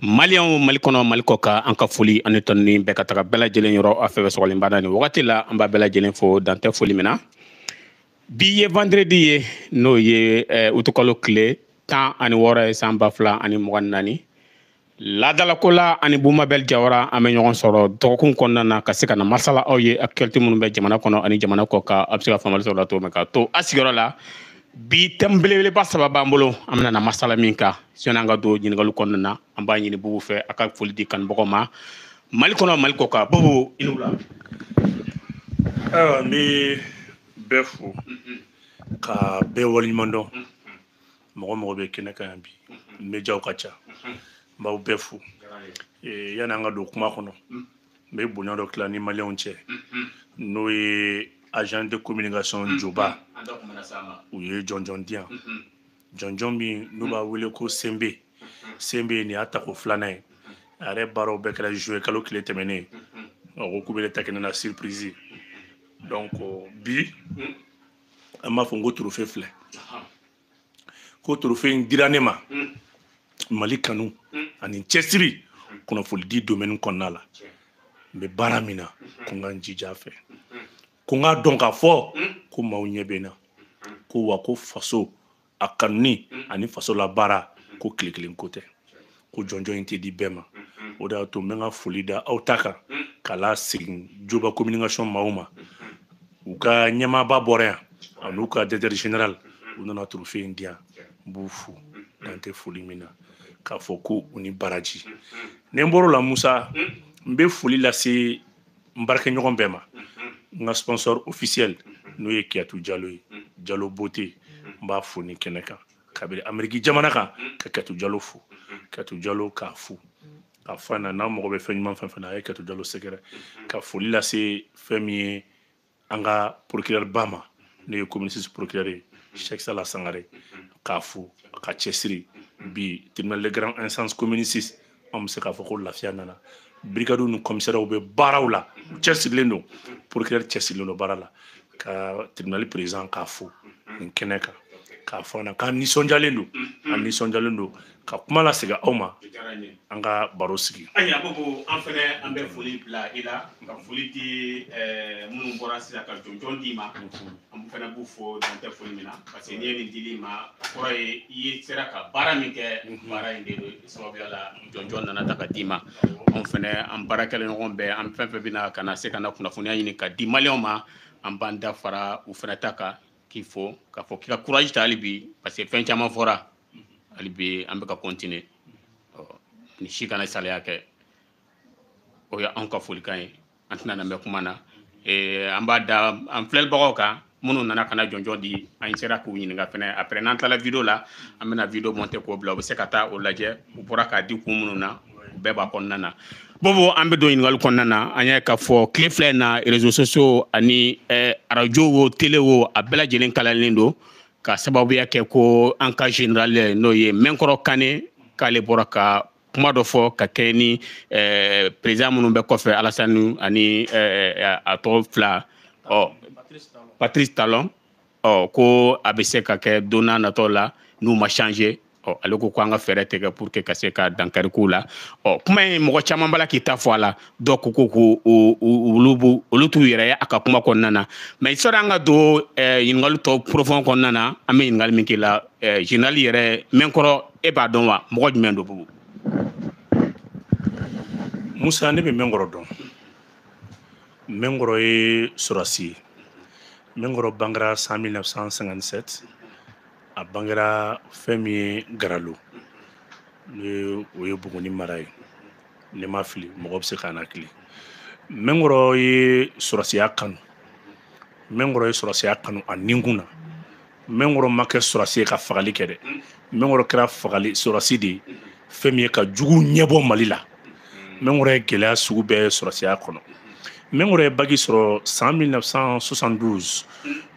Maliyɛnw mali kɔnɔ mali kɔ kan an ka foli ani tanuni bɛ ka taga bɛɛ lajɛlen yɔrɔ a fɛn fɛn sɔgɔlen b'an na nin wagati la an b'a bɛɛ lajɛlen fo dan tɛ foli min na bi ye vendredi ye n'o ye eh, utukalo tile tan ani wɔɔrɔ ye san ba fila ani mugan ni naani Laadalako la an ni Bubu Mabɛl Jawara an bɛ ɲɔgɔn sɔrɔ dɔgɔkun kɔnɔna na ka se ka na masala aw ye actualité minnu bɛ jamana kɔnɔ ani jamana kɔ kan a bɛ se ka faamuyali sɔrɔ o la cogo min ka to a sigiyɔrɔ la bi thème belebeleba saba b'an bolo an bɛna na masala min kan sani an ka don ɲininkaliw kɔnɔna na an b'a ɲini Bubu fɛ a ka foli di kanubagaw ma Mali kɔnɔ Mali kɔ kan Bubu i ni wula ayiwa n bɛ bɛɛ fo ka bɛɛ waleɲumandɔn mɔgɔ mɔgɔ bɛ kɛnɛ kan yan bi médiaw ka ca n b'aw bɛɛ fo yanni an ka don kuma kɔnɔ n bɛ bonya dɔ tila n ni maliyɛnw cɛ n'o ye agence de communication joba u ye jɔnjɔn di yan jɔnjɔn min n'u b'a wele ko senbe senbe nin y'a tako filanan ye a yɛrɛ baaraw bɛɛ kɛra juillet kalo tile tɛmɛnen a ko k'u bɛ ne ta kɛnɛ na surprise donc bi an b'a fɔ n ko trophée filɛ ko trophée in dira ne ma mm. mali kanu mm. ani cɛsiri mm. kunnafolidi domaine kɔnɔna la n bɛ baara min na mm-hmm. ko n ka n jija a fɛ mm-hmm. ko n k'a dɔn k'a fɔ ko maaw ɲɛ bɛ n na ko wa ko faso a kanuni ani faso labaara ko tile kelen ko tɛ ko jɔnjɔn in tɛ di bɛɛ ma o de y'a to n bɛ n ka foli da aw ta kan ka lasegin joba communication maaw ma u ka ɲɛmaaba bɔra yan an'u ka directeur général u nana trophée in di yan n b'u fo dan tɛ foli min na k'a fɔ ko u ni baraji ni n bɔr'o la musa n bɛ foli lase n baarakɛɲɔgɔn bɛɛ ma n ka sponsor officiel n'o ye kiyatu jalo ye jalo beauté n b'a fo nin kɛnɛ kan kabiri ameriki jamana kan ka kiyatu jalo fo kiyatu jalo k'a fo k'a fɔ a na n'a mago bɛ fɛn ɲuman fɛn fɛn na a ye kiyatu jalo sɛgɛrɛ ka foli lase fɛn min ye an ka procureur ba ma n'o ye commune six procureur ye Cheikh Sala Sangare k'a fo a ka cɛsiri bi tribunal de grande instance commune six an bɛ se k'a fɔ ko lafiya nana brigadiw ni commissariats bɛ baaraw la u cɛsirilen don procureur cɛsirilen don baara la ka tribunal président k'a fo nin kɛnɛ kan k'a fɔ an na k'an nisɔndiyalen don an nisɔndiyalen don ka kuma lasegin aw ma an ka barosigi ayi a ko an fɛnɛ an bɛ foli bila i la ka foli di eh, minnu bɔra sisan ka jɔnjɔn d'i ma an fɛnɛ b'u fo dan tɛ foli min na parce que n'i ye nin dil'i ma a kɔrɔ ye i ye sera ka baara min kɛ baara in de do sababuya la jɔnjɔn nana ta ka d'i ma anw fɛnɛ an baarakɛla ɲɔgɔn bɛɛ an fɛn fɛn bɛna ka na se ka na kunnafoniya ɲini ka di maliyɛnw ma an b'an da fara u fɛnɛ ta kan k'i fo k'a fɔ k'i ka kuraji ta hali bi parce que fɛn caman fɔra hali bi an bɛ ka kɔntine ni si kana saliya kɛ o ye anw ka folikan ye an tɛna na mɛn kuma na an b'a da an filɛlibagaw kan minnu nana ka na jɔnjɔn di an sera k'u ɲininka fana après n'an tilala video la an bɛna video monter k'o bila u bɛ se ka taa o lajɛ u bɔra k'a di kun minnu na u bɛɛ b'a kɔnɔna na bubu an bɛ don ɲininkali kɔnɔna na an y'a k'a fɔ tile fila in na réseaux sociaux ani arajo wo tele wo a bɛɛ lajɛlen kalalen don ka sababuya kɛ ko an ka general n'o ye mɛnkɔrɔ kane k'ale bɔra ka kuma dɔ fɔ ka kɛɲɛ ni eh, président minnu bɛ kɔfɛ alasani ani eh, a tɔgɔ fila ɔ patrice talon ɔ ko a bɛ se ka kɛ don natɔ la n'u ma changer ɔ ale ko ko an ka fɛɛrɛ tigɛ pour que ka se ka dankari k'u la ɔ kuma in mɔgɔ caman b'a la k'i ta fɔ a la dɔw ko ko ko olu b'u olu t'u yɛrɛ ye a ka kuma kɔnɔna na mais sɔrɔ an ka don ɲininkali tɔ profond kɔnɔna na an bɛ ɲininkali min k'i la general yɛrɛ mɛnkɔrɔ e b'a dɔn wa mɔgɔ jumɛn don bubu musa ne bɛ mɛnkɔrɔ dɔn mɛnkɔrɔ ye sɔrɔsi ye mɛnkɔrɔ bangera san 1957 a bangera fɛn min ye garalo ni o ye buguni mara ye ne mana fili mɔgɔ bɛ se ka n hakili mɛnkɔrɔ ye sɔrɔsiya kanu mɛnkɔrɔ ye sɔrɔsiya kanu a ninkun na mɛnkɔrɔ ma kɛ sɔrɔsi ye ka fagali kɛ dɛ mɛnkɔrɔ kɛra fagali sɔrɔsi de ye fɛn min ye ka jugu ɲɛbɔ mali la mɛnkɔrɔ ye gɛlɛya sugu bɛɛ sɔrɔsiya kɔnɔ mɛnkɔrɔ ye baki sɔrɔ san 1972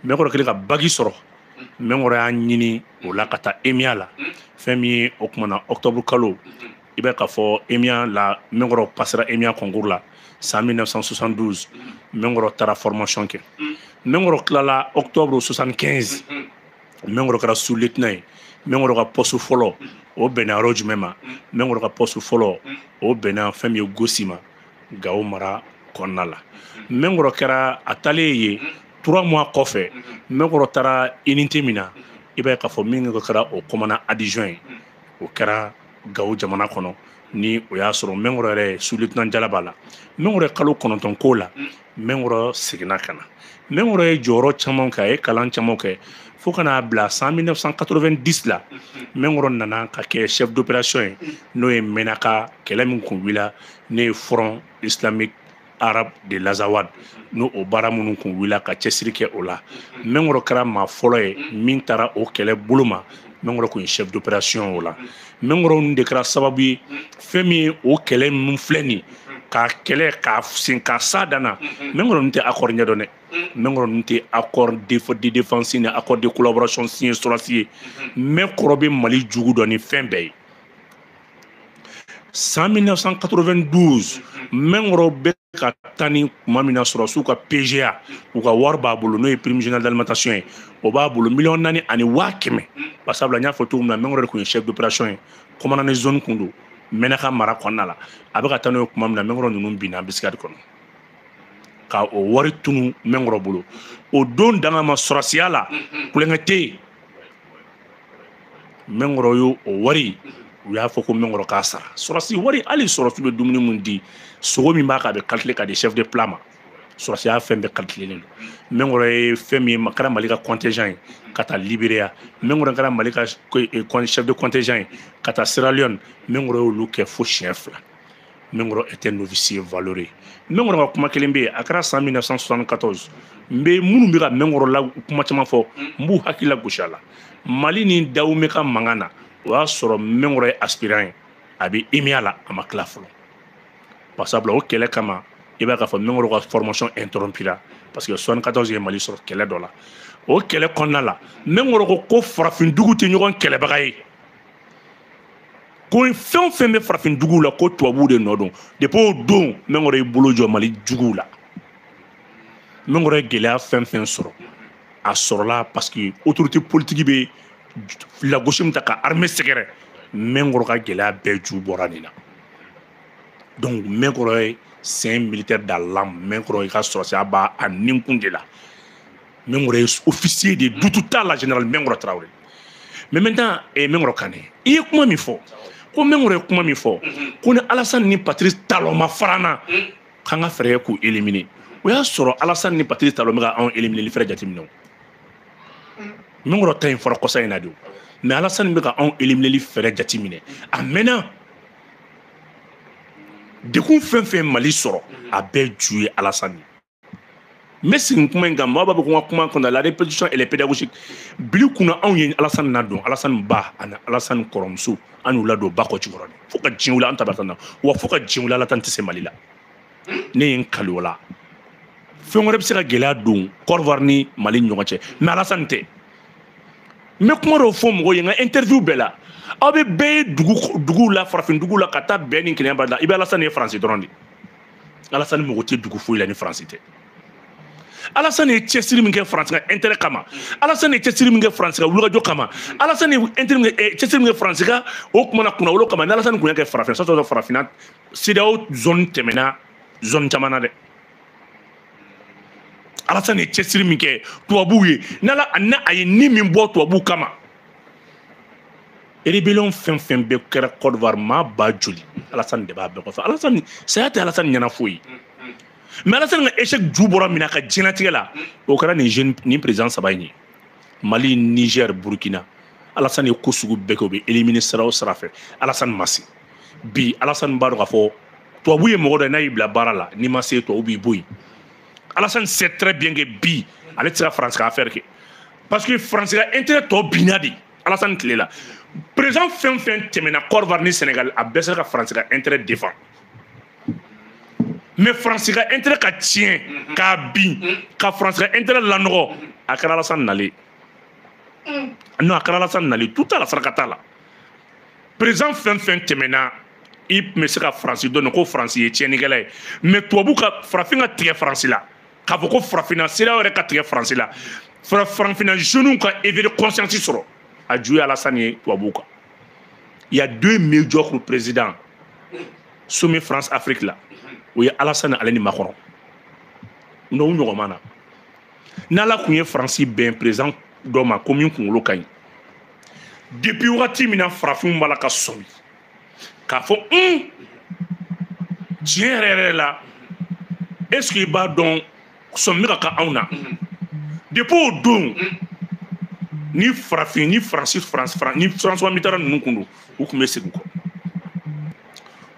mɛnkɔrɔ kɛlen ka baki sɔrɔ mɛnkɔrɔ y'a ɲini o la ka taa emiya la fɛn min ye o kuma na octobre kalo i bɛ ka fɔ emiya la mɛnkɔrɔ pasera emiya concours la san 1972 mɛnkɔrɔ taara formation kɛ mɛnkɔrɔ tilala octobre 75 mɛnkɔrɔ kɛra sous lieutenant ye mɛnkɔrɔ ka poste fɔlɔ o bɛnna yɔrɔ jumɛn ma mɛnkɔrɔ ka poste fɔlɔ o bɛnna fɛn min ye gosi ma gawo mara kɔnɔna la mɛnkɔrɔ kɛra a taalen ye trois mois kɔfɛ mɛnkɔrɔ taara unité min na i b'a ye k'a fɔ min kɛra o commandant adjoint ye o kɛra gawo jamana kɔnɔ ni o y'a sɔrɔ mɛnkɔrɔ yɛrɛ sous lieutenant jala b'a la mɛnkɔrɔ ye kalo kɔnɔntɔn k'o la mɛnkɔrɔ seginna ka na mɛnkɔrɔ ye jɔyɔrɔ caman kɛ a ye kalan caman kɛ fo ka n'a bila san 1990 la mɛnkɔrɔ nana ka kɛ chef d'opération ye n'o ye mɛnaka kɛlɛ min kun wulila n'o ye front islamique arabe de l'azawad n'o o baara minnu kun wulila ka cɛsiri kɛ o la mɛnkɔrɔ kɛra maa fɔlɔ ye min taara o kɛlɛ bolo ma mɛnkɔrɔ kun ye chef d'opération o la mɛnkɔrɔ ninnu de kɛra sababu ye fɛn min ye o kɛlɛ min filɛ nin ye k'a kɛlɛ k'a sin k'a se a dan na mɛnkɔrɔ ninnu tɛ accord ɲɛ dɔn dɛ mɛnkɔrɔ ninnu tɛ accord de défense ni accord de collaboration signé sɔrɔsi ye mɛnkɔrɔ bɛ mali jugu dɔn ni fɛn bɛɛ ye san 1992 mɛnkɔrɔ bɛ ka taa ni kuma min na sɔrɔsiw ka pga u ka wari b'a bolo n'o ye prime générale d'alimentation ye o b'a bolo miliyɔn naani ani waa kɛmɛ basabula n y'a fɔ cogo min na mɛnkɔrɔ de kun ye chef d'opération ye commandant de zone kun don mɛnaka mara kɔnɔna la a bɛ ka taa n'u ye kuma min na mɛnkɔrɔ ninnu binna embuscade kɔnɔ ka o wari tunu mɛnkɔrɔ bolo o don danga ma sɔrɔsiya la kulonkɛ tɛ yen mɛnkɔrɔ y'o wari u y'a fɔ ko mɛnkɔrɔ k'a sara sɔrɔsi wari hali sɔrɔsi bɛ dumuni min di sogo min b'a kan a bɛ kalikile ka di chef de plat ma sɔrɔsiya fɛn bɛɛ kalikilelen don mɛnkɔrɔ ye fɛn min ye kɛra mali ka contingent ye ka taa liberia mɛnkɔrɔ kɛra mali ka chef de contingent ye ka taa sierra leone mɛnkɔrɔ y'olu kɛ fo siɲɛ fila mɛnkɔrɔ était un officier valeureux mɛnkɔrɔ ka kuma kelen bɛ yen a kɛra san 1974 n bɛ minnu bɛ ka mɛnkɔrɔ la kuma caman fɔ n b'u hakili lagosi a la mali ni dawume ka mankan na o y'a sɔrɔ mɛnkɔrɔ ye aspirant ye a bɛ emia la a ma tila fɔlɔ parce que o kɛlɛ kama i b'a k'a fɔ mɛnkɔrɔ ka formation interrompue la parce que 74 ye mali sɔrɔ kɛlɛ dɔ la o kɛlɛ kɔnɔna la mɛnkɔrɔ ko ko farafindugu tɛ ɲɔgɔn kɛlɛbaga ye ko fɛn o fɛn bɛ farafinduguw la ko tubabuw de nɔ don depuis o don mɛnkɔrɔ y'i bolo jɔ mali juguw la mɛnkɔrɔ ye gɛlɛya fɛn fɛn sɔrɔ a sɔrɔla parce que autorité politique bɛ lagosi min ta ka armée sɛgɛrɛ mɛnkɔrɔ ka gɛlɛya bɛɛ ju bɔra nin na donc mɛnkɔrɔ ye c'est un militaire dans l'âme mɛnkɔrɔ i ka sɔrɔsiya b'a a ninkun de la mɛnkɔrɔ ye officier de ye doute t'a la général mɛnkɔrɔ tarawele mais maintenant eh, mɛnkɔrɔ kane i ye kuma min fɔ ko mɛnkɔrɔ ye kuma min fɔ ko ni alasani ni patrice talon ma fara an na k'an ka fɛɛrɛ k'u éliminer o y'a sɔrɔ alasani ni patrice talon bɛ ka anw élimineli fɛɛrɛ jateminɛ o mɛnkɔrɔ ta in fɔra kɔsa in na de o mais alasani bɛ ka anw élimineli fɛɛrɛ jateminɛ a mɛnna dɛgun fɛn fɛn mali sɔrɔ a bɛɛ ju ye alasani n bɛ segin kuma in kan maa b'a bɛ ko n ka kuma kɔnɔ la répétition elle est pédagogique bili kunna anw ye alasani ladon alasani ba ani alasani kɔrɔmuso an y'u ladon bakɔjikɔrɔni fo ka diɲɛ wuli an ta bɛ tan na wa fo ka diɲɛ wuli alasani tɛ se mali la ne ye n kali o la fɛn wɛrɛ bɛ se ka gɛlɛya don kɔdiwari ni mali ni ɲɔgɔn cɛ mais alasani tɛ n bɛ kuma dɔw fɔ mɔgɔw ye n ka interview bɛɛ la aw bɛ bɛɛ ye dugu duguw la farafin duguw la ka taa bɛn ni kelenya bali la i bɛ alasani ye faransi dɔrɔn de alasani mago tɛ dugu foyi la ni faransi tɛ alasani ye cɛsiri min kɛ faransi ka intérêt kama alasani ye cɛsiri min kɛ faransi ka wulikajɔ kama alasani ye intérêt min kɛ cɛsiri min kɛ faransi ka o kuma na kunnawolo kama ni alasani kun y'a kɛ farafin sɔrɔ sɔrɔ farafinna CEDEAO zone tɛmɛna zone caman na dɛ alasani ye cɛsiri min kɛ tubabuw ye n'ala n'a a ye ni min bɔ tubabuw kama rébellion fɛn fɛn bɛɛ kɛra Côte d'Ivoire maa ba joli Alassane de b'a bɛɛ kɔfɛ Alassane saya tɛ Alassane ɲɛna foyi mais Alassane ka échec ju bɔra min na ka diɲɛlatigɛ la o kɛra nin jeune nin président saba in ye Mali Niger Burkina Alassane ye ko sugu bɛɛ kɛ o bɛɛ éliminer sira o sira fɛ Alassane ma se bi Alassane b'a dɔn k'a fɔ tubabu ye mɔgɔ dɔ ye n'a y'i bila baara la n'i ma se tubabu b'i bɔ yen Alassane sait très bien que bi ale tɛ se ka France ka affaire kɛ parce que faransi ka intérêt tɔ binna de alasani tile la président fɛn o fɛn tɛmɛna côte d'ivoire ni sénégal a bɛɛ sera ka faransi ka intérêt défend mais faransi ka intérêt ka tiɲɛ k'a bin ka faransi ka intérêt lanɔgɔ a kɛra alasani nalen non a kɛra alasani nalen tout à la saraka t'a la président fɛn o fɛn tɛmɛna i tun bɛ se ka faransi dɔn ko faransi ye tiɲɛnikɛla ye mais tubabu ka farafin ka tigɛ faransi la k'a fɔ ko farafinna sera yɛrɛ ka tigɛ faransi la farafinna jeunes ka éveil conscience sɔrɔ a ju ye alasani ye tubabuw kan il y a deux médiocres présidents sommet france afrique la o ye alasani ale ni macron o ɲɔgɔn ma na n'ala tun ye faransi bɛn président dɔ ma ko min kunkolo ka ɲi depuis wagati min na farafinw b'a la ka sɔmi k'a fɔ un tiɲɛ yɛrɛ yɛrɛ la est ce que i b'a dɔn sɔmi bɛ ka kɛ anw na depuis o don ni farafin ni faransi faransi faransi ni françois mitterrand ninnu kun don u tun bɛ segin kɔ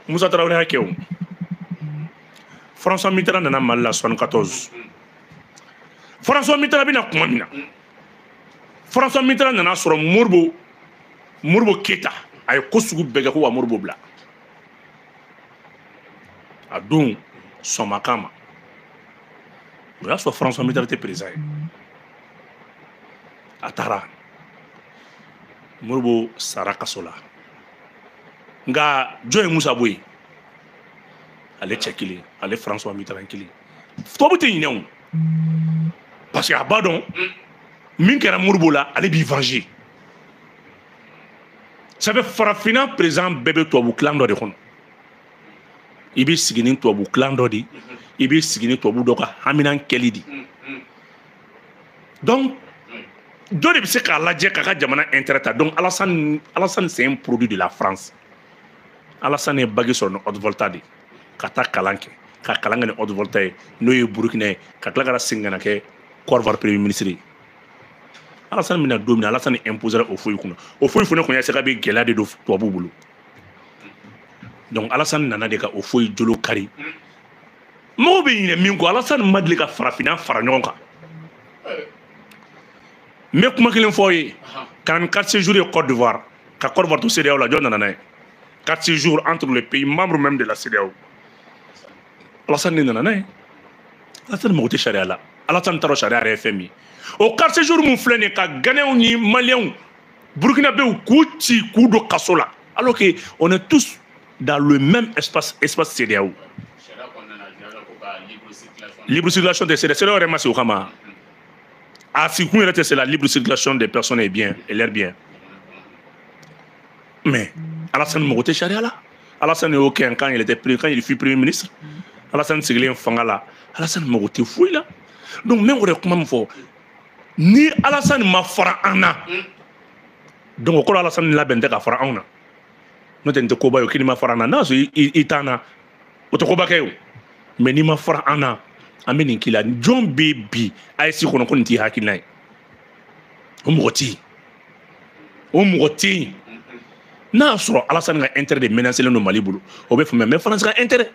musa tarawele y'a kɛ o françois mitterrand nana mali la 74 françois mitterrand bɛna kuma min na françois mitterrand nana sɔrɔ modibo modibo keita a ye ko sugu bɛɛ kɛ ko wa modibo bila a don sɔnmakan ma o y'a sɔrɔ françois mitterrand tɛ président ye a taara modibo sara kaso la nka jɔn ye musa bɔ yen ale cɛ kelen ale françois mitterrand kelen tubabu tɛ ɲinɛ o parce que a b'a dɔn min kɛra modibo la ale b'i venger ça fait farafinna président bɛɛ bɛ tubabu clan dɔ de kɔnɔ i bɛ sigi ni tubabu clan dɔ de i bɛ sigi ni tubabu dɔ ka haminan kɛli de donc dɔ de bɛ se k'a lajɛ k'a ka jamana intérêt ta donc Alassane Alassane c'est un produit de la France Alassane ye bac sɔrɔ ni haute volta de ye ka taa kalan kɛ ka kalan kɛ ni haute volta ye n'o ye burukina ye ka tila ka na segin ka na kɛ Côte d'Ivoire premier ministre ye alasani mina don min alasani imposera houphouët kunna houphouët fana kun ye sɛgɛ bɛ gɛlɛya de don tubabu bolo donc alasani nana de ka houphouët jolo kari mɔgɔw bɛ ɲinɛ min kɔ alasani ma deli ka farafinna fara ɲɔgɔn kan n bɛ kuma kelen fɔ i ye k'an carte séjour ye Côte d'Ivoire ka Côte d'Ivoire to CEDEAO la jɔn nana n'a ye carte séjour entre les pays membres même de la CEDEAO. Alassane nana n'a ye Alassane mago tɛ sariya la Alassane taara sariya yɛrɛ ye fɛn min o carte séjour min filɛ nin ye ka Ghanéens ni Maliens Burkinabéw k'u ci k'u don kaso la alors que on est tous dans le même espace espace CEDEAO. Libre circulation des CEDEAO CEDEAO yɛrɛ ma sigi o kama a sigikun yɛrɛ tɛ c'est la libre circulation des personnes et biens et leurs biens. mais alasani mago tɛ sariya la alasani y'o kɛ quand il était quand il fut premier ministre alasani sigilen fanga la alasani mago tɛ foyi la donc n bɛ o de kuma min fɔ ni alasani ma fara an na donc o kɔrɔ alasani labɛnnen tɛ ka fara anw na n'o tɛ nin tɛ koba ye o ko n'i ma fara an na n'a sɔrɔ i t'an na o tɛ koba kɛ o mais n'i ma fara an na an bɛ nin k'i la jɔn bɛ bi AES kɔnɔ ko nin t'i hakilina ye o mɔgɔ tɛ yen o mɔgɔ tɛ yen n'a y'a sɔrɔ alasani ka intérêt de menacelen don mali bolo o bɛ faamuya mais faransi ka intérêt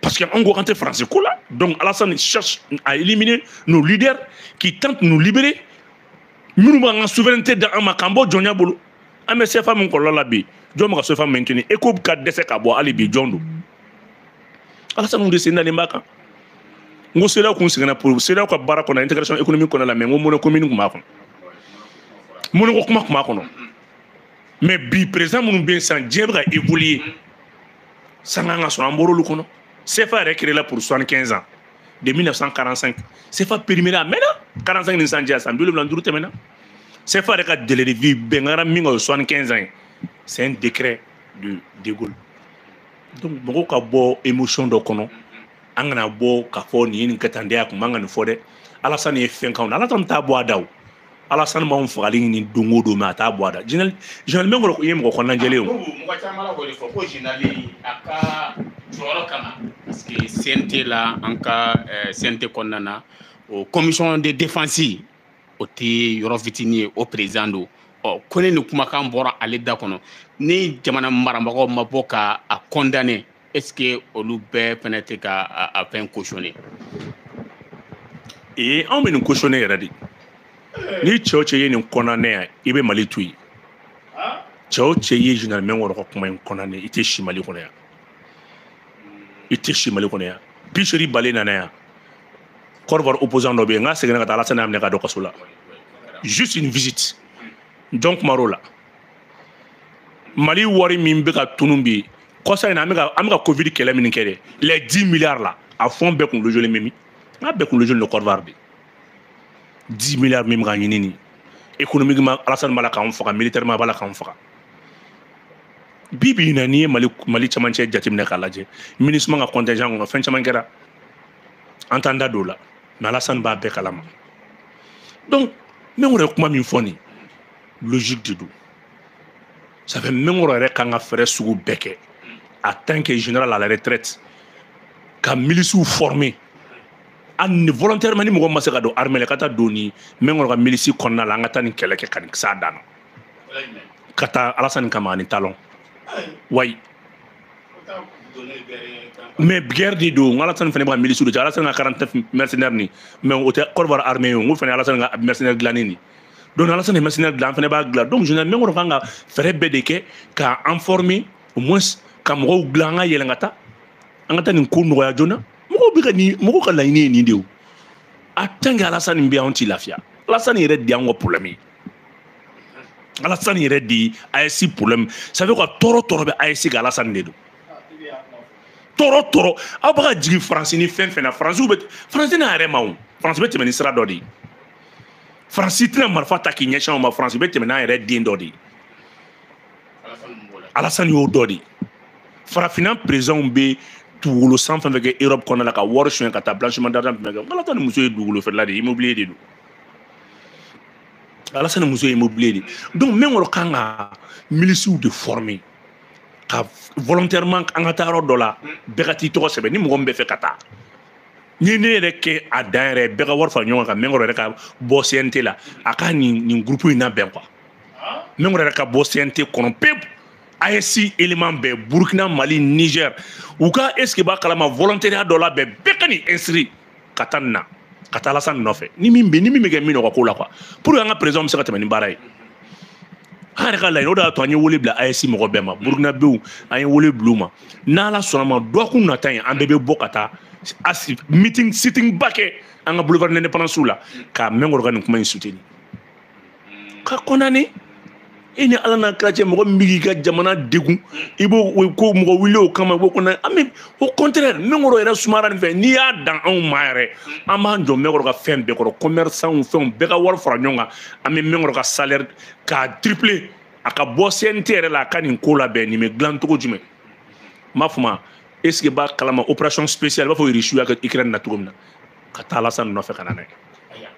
parce que anw ko k'an tɛ faransi ko la donc alasani cherche à éliminer nos leaders qui tentent nous libérer minnu b'an ka souveraineté d'an ma k'an bɔ jɔnya bolo an bɛ sefa min kɔlɔlɔ la bi jɔn bɛ ka sefa maintenir eco bɛ ka dɛsɛ ka bɔ hali bi jɔn don alasanu de sen dalen b'a kan n ko CEDEAO kun seginna pour CEDEAO ka baara kɔnɔ intégration économique kɔnɔ la mais n ko monnaie commune tun b'a kɔnɔ monnaie ko kuma tun b'a kɔnɔ mais bi président minnu bɛ yen sisan diɲɛ bɛ ka évoluer san kan ka sɔrɔ an bɔr'olu kɔnɔ CFA yɛrɛ créé la pour 75 ans de 1945 CFA périmé a mɛnna 45 ni sisan cɛ san bi wolonwula ni duuru tɛmɛna CFA yɛrɛ ka délai de vie bɛn kɛra min kan o ye 75 ans ye c'est un décret de de Gaulle donc mɔgɔw ka bɔ émotion dɔ kɔnɔ an kana bɔ k'a fɔ nin ye nin kɛ tan de a kun man ka nin fɔ dɛ alasani ye fɛn k'anw na alasani t'a bɔ a da o alasani b'anw fagali ɲini don o don mais a t'a bɔ a da général général minkɔrɔ ye mɔgɔ kɔnɔnajɛlen o mɔgɔ caman la kɔni fɔ ko général a ka jɔyɔrɔ kama parce que CNT la an ka CNT kɔnɔna na o commission de défense o tɛ yɔrɔ fitinin ye o président don ɔ ko ne ni kumakan bɔra ale da kɔnɔ ni jamana marabagaw ma bɔ ka a condamner est-ce que olu bɛɛ fana tɛ ka a fɛn cautionner ee anw bɛ nin cautionner yɛrɛ de ni cɛ o cɛ ye nin condamner yan i bɛ mali to yen cɛ o cɛ ye général minkɔrɔ ka kuma in condamner i tɛ si mali kɔnɔ yan i tɛ si mali kɔnɔ yan bi seegin balen nana yan Côte d'Ivoire opposant dɔ bɛ yen n ka seginna ka taa Alasani y'a minɛ ka don kaso la juste une visite jɔn kuma la Mali wari min bɛ ka tunun bi kɔsa in na an bɛ ka an bɛ ka Covid kɛlɛ min kɛ dɛ les 10 milliards la a fond bɛɛ kunkolo jɔlen bɛ min n k'a bɛɛ kunkolo jɔlen don Côte d'Ivoire de 10 milliards min bɛ ka ɲini nin économiquement Alasani b'a la k'anw faga militairement a b'a la k'anw faga. bi bi in na n'i ye mali mali camancɛ jateminɛ k'a lajɛ MINUSMA ka contingent kɔnɔ fɛn caman kɛra an t'an da don la mais alasani b'a bɛɛ kalama donc minkɔrɔ ye kuma min fɔ nin logique de don ça fait minkɔrɔ yɛrɛ kan ka fɛɛrɛ sugu bɛɛ kɛ en tant que général à la retraite ka milisiw former a ni volontairement ni mɔgɔ ma se ka don armée la ka taa don ni minkɔrɔ ka milisi kɔnɔna la an ka taa nin kɛlɛ kɛ ka nin s'a dan na ka taa alasani kama ani talɔn wayi mais guerre de don alasani fana bɛ ka milisiw de cɛ alasani ka 49 mercenaire ni mais o tɛ Côte d'Ivoire armée ye o n ko fana alasani ka mercenaire dilanni ni donc alasani mercenaire dilan an fana b'a dilan donc général minkɔrɔ kan ka fɛɛrɛ bɛɛ de kɛ ka an former au moins ka mɔgɔw dilan an ka yɛlɛn ka taa an ka taa nin ko nɔgɔya joona mɔgɔw bɛ ka nin mɔgɔw ka laɲini ye nin de ye o en tant que alasani bɛ yen anw tɛ lafiya alasani yɛrɛ de y'anw ka problème ye alasani yɛrɛ de ye ayɛsi problème ça veut ka tɔɔrɔ tɔɔrɔ bɛ ayɛsi kan alasani de don tɔɔrɔ tɔɔrɔ aw bɛ ka jigin faransi ni fɛn fɛn na faransiw bɛ faransi n'a yɛrɛ ma o faransi bɛ tɛmɛ ni sira dɔ de ye faransi tɛna marifa ta k'i ɲɛsin aw ma faransi bɛ tɛmɛ n'a yɛrɛ den dɔ de ye alasani y'o dɔ de ye farafinna perezanw bɛ dugukolo san fɛn fɛn kɛ europe kɔnɔna la ka wari sonya ka taa blanchiment d'argent fɛn fɛn kɛ nka alasani muso ye dugukolo feerela de ye immobilier de don alasani muso ye immobilier de donc mɛnkɔrɔ kan ka milisiw de former ka volontairement an ka taa yɔrɔ dɔ la bɛɛ ka t'i tɔgɔ sɛbɛn ni mɔgɔ min bɛ fɛ ka taa ni ne yɛrɛ kɛ a dan yɛrɛ bɛɛ ka wari fara ɲɔgɔn kan mɛnkɔrɔ yɛrɛ ka bɔ cnt la a ka nin nin groupe in labɛn quoi mɛnkɔrɔ yɛrɛ ka bɔ cnt kɔnɔ pewu AES élément bɛɛ Burkina Mali Niger u ka est ce que b'a kalama volontariat dɔ la bɛɛ bɛɛ ka nin inscrit ka taa nin na ka taa alasan nɔfɛ ni min bɛ ni min bɛ kɛ min nɔgɔ ko la quoi pour que an ka présidentw bɛ se ka tɛmɛ ni baara ye an yɛrɛ ka laɲini o de y'a to an ye wele bila AES mɔgɔ bɛɛ ma burukinabew an ye wele bila u ma n'ala sɔnna ma dɔgɔkun nata in an bɛɛ bɛ bɔ ka taa AES meeting sitting ba kɛ an ka boulevard indépendance la ka mɛnkɔrɔ ka nin kuma in soutenir ka kɔnani i ni ala n'a kira cɛ mɔgɔ min b'i ka jamana degun i b'o ko mɔgɔ wuli o kama i b'o kɔnɔ an bɛ o contraire mɛnkɔrɔ yɛrɛ sumara nin fɛ n'i y'a dan anw ma yɛrɛ an b'an jɔ mɛnkɔrɔ ka fɛn bɛɛ kɔrɔ commerçanw fɛnw bɛɛ ka wari fara ɲɔgɔn kan an bɛ mɛnkɔrɔ ka salaire k'a tripler a ka bɔ CNT yɛrɛ la a ka nin ko labɛn nin bɛ dilan cogo jumɛn n b'a fɔ ma est ce que b'a kalama opération spéciale i b'a fɔ Russie y'a kɛ Ukraine na cogo min na ka taa Alassane nɔfɛ ka na n'a ye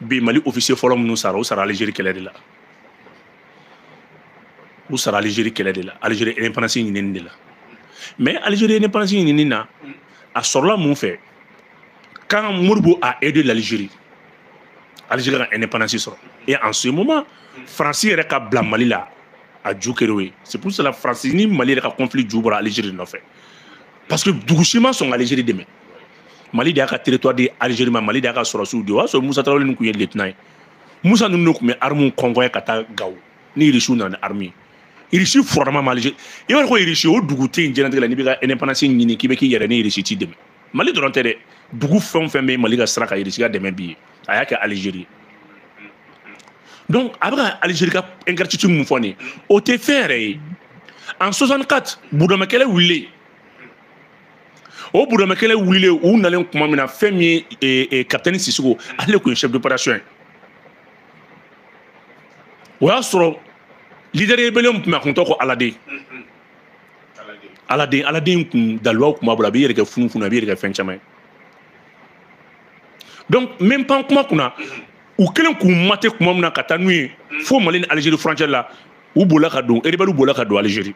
bi mali officier fɔlɔ minnu sara u sara algérie kɛlɛ de la u sara algérie kɛlɛ de la algérie indépendance ɲinini de la mais algérie indépendance ɲinini na a sɔrɔla mun fɛ quand modibo a aidé l'algérie algérie ka indépendance sɔrɔ et en ce moment france yɛrɛ ka bila mali la a ju kɛr'o ye c'est pour cela france ni mali yɛrɛ ka conflit ju bɔra algérie nɔfɛ parce que dugu si ma sɔn ka algérie dɛmɛ mali de y'a ka territoire di algérie ma mali de y'a ka sɔrɔsiw di o y'a sɔrɔ musa tarawele nin tun ye lieutenant ye musa ninnu de tun bɛ armuw convoyer ka taa gawo ni irisiw nana ni armu ye irisi furama ma algérie i b'a dɔn ko irisi o dugu tɛ yen diɲɛnatigɛ la n'i bɛ ka indépendance ɲini k'i bɛ k'i yɛrɛ ni irisi t'i dɛmɛ mali dɔrɔn tɛ dɛ dugu fɛn o fɛn bɛ mali ka sira kan irisi ka dɛmɛ b'i ye a y'a kɛ algérie donc a bɛ ka algérie ka ingratitude min fɔ nin ye o tɛ fɛn yɛrɛ ye en 64 burudamɛ kɛlɛ wulilen o burudama kɛlɛ wulilen u nalen kuma min na fɛn min ye kapitɛni sisɔkɔ ale de tun ye chef d'opération ye o y'a sɔrɔ leader rebellion tun bɛ a kun tɔgɔ ko aladen aladen aladen kun dalilubaw tun b'a bolo a b'i yɛrɛ kɛ funu funu a b'i yɛrɛ kɛ fɛn caman ye donc n bɛ n pan kuma kunna u kɛlen k'u mater kuma min na ka taa n'u ye fo mali ni alizeri furancɛ la u bolila ka don erebɛliw bolila ka don alizeri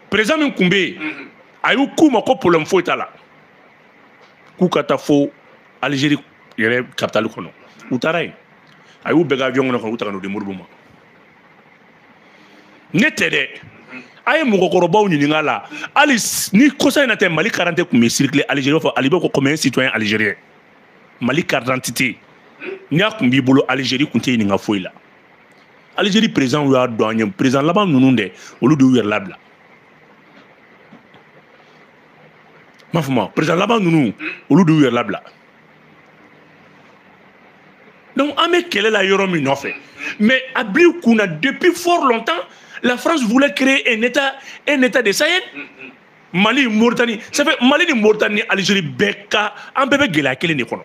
président min tun bɛ yen mhm. a y'u k'u ma ko problème foyi t'a la k'u ka taa fo algérie yɛrɛ capitale kɔnɔ u taara yen a y'u bɛɛ kɛ avion kɔnɔ ka u ta ka n'u di modibo ma ne tɛ dɛ mhm. a ye mɔgɔkɔrɔbaw ɲininka la hali ni kɔsa in na tɛ mali karante tun bɛ circuler algérie b'a fɔ ali bɛ ko comme un citoyen algérien mali carte d'identité n'a tun b'i bolo algérie tun t'i ɲininka foyi la alizeri perezidan y'a dɔn an ye perezidan laban ninnu dɛ olu de y'u yɛrɛ labila m'a fɔ ma perezidan laban ninnu olu de y'u yɛrɛ labila donc an bɛ kɛlɛ la yɔrɔ min nɔfɛ mais a bil'i kun na depuis fort longtemps la france voulait créer un état un état de sahel mali mauritanie ça fait mali ni mauritanie ni algérie bɛɛ ka an bɛɛ bɛ gɛlɛya kelen de kɔnɔ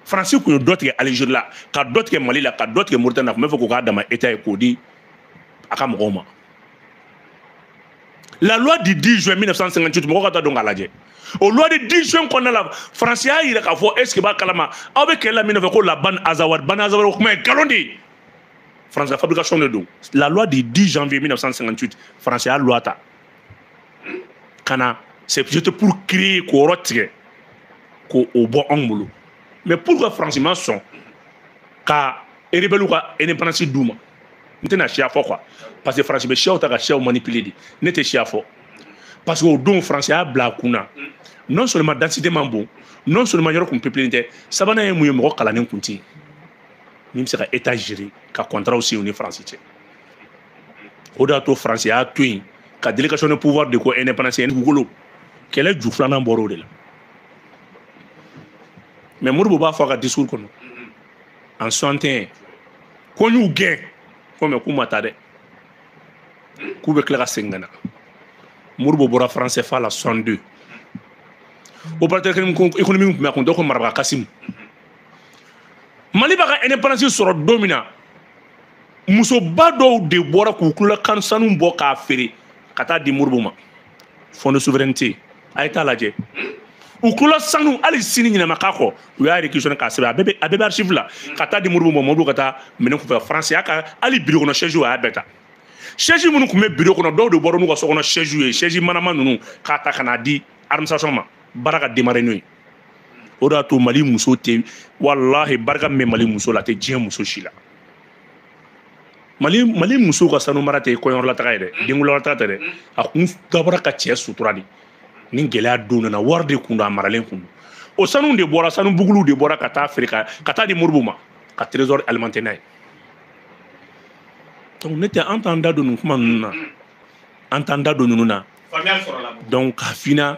faransi tun ye dɔ tigɛ alizeri la ka dɔ tigɛ mali la ka dɔ tigɛ moritani na tun b'a fɛ k'o k'a dama état ye k'o di a ka mɔgɔw ma la loi du 10 juin 1958 mɔgɔ ka taa don k'a lajɛ o loi du 10 juin kɔnɔna la faransi y'a yira k'a fɔ est-ce que b'a kalama aw bɛ kɛlɛ la min nɔfɛ ko la ban azawad ban azawad o kuma ye nkalon de ye faransi ka fabrication de don la loi du 10 janvier 1958 faransi y'a loi ta ka na c'est peut-être pour créer k'o yɔrɔ tigɛ k'o bɔ anw bolo mais pourquoi faransi ma sɔn ka rebelle ka indépendance d'u ma n tɛna siya fɔ quoi parce que faransi bɛ siyaw ta ka siyaw manipuler de ne tɛ siya fɔ parce que o don faransi y'a bila a kun na non seulement densité man bon non seulement yɔrɔ kun peuplelen tɛ sabanan ye mun ye mɔgɔ kalannen kun tɛ yen min bɛ se ka état gérer ka contrat signer u ni faransi cɛ o de y'a to faransi y'a to yen ka délégation de pouvoir di ko indépendance ye dugukolo kɛlɛ ju filanan bɔra o de la mais modibo b'a fɔ a ka discours kɔnɔ en 61 ko n y'u gɛn ko mais k'u ma taa dɛ k'u bɛ tila ka segin ka na modibo bɔra franc cfa la 62 opérateur économique tun bɛ a kun tɔgɔ ko maraba kasimu mali b'a ka indépendance sɔrɔ don min na musoba dɔw de bɔra k'u tulola sanu bɔ k'a feere ka taa di modibo ma fond de souveraineté a ye t'a lajɛ u tulola sanu hali sini ɲɛnama k'a kɔ u y'a réquisitionné k'a sɛbɛn a bɛɛ bɛ a bɛɛ bɛ archive la ka taa di modibo ma modibo ka taa minkɛ france y'a ka hali biro kɔnɔ chaise a y'a bɛɛ ta chaise minnu tun bɛ biro kɔnɔ dɔw de bɔra n'u ka so kɔnɔ chaise ye chaise manama ninnu k'a ta ka n'a di administration ma baara ka démarrer n'o ye o de y'a to mali muso tɛ walahi barika min bɛ mali muso la a tɛ diɲɛ muso si la mali mali muso ka sanu mara tɛ kɔɲɔyɔrɔlataga ye dɛ mm. denkundilataga tɛ dɛ mm. a kun dabɔra ka cɛ sutura de ni gɛlɛya don nana wari de kun don a maralen kun don o sanu de bɔra sanu buguluw de bɔra ka taa feere ka taa di modibo ma ka trésor alimenter n'a ye donc ne tɛ an t'an da don nin kuma ninnu na mm. an t'an da don ninnu na donc ka fina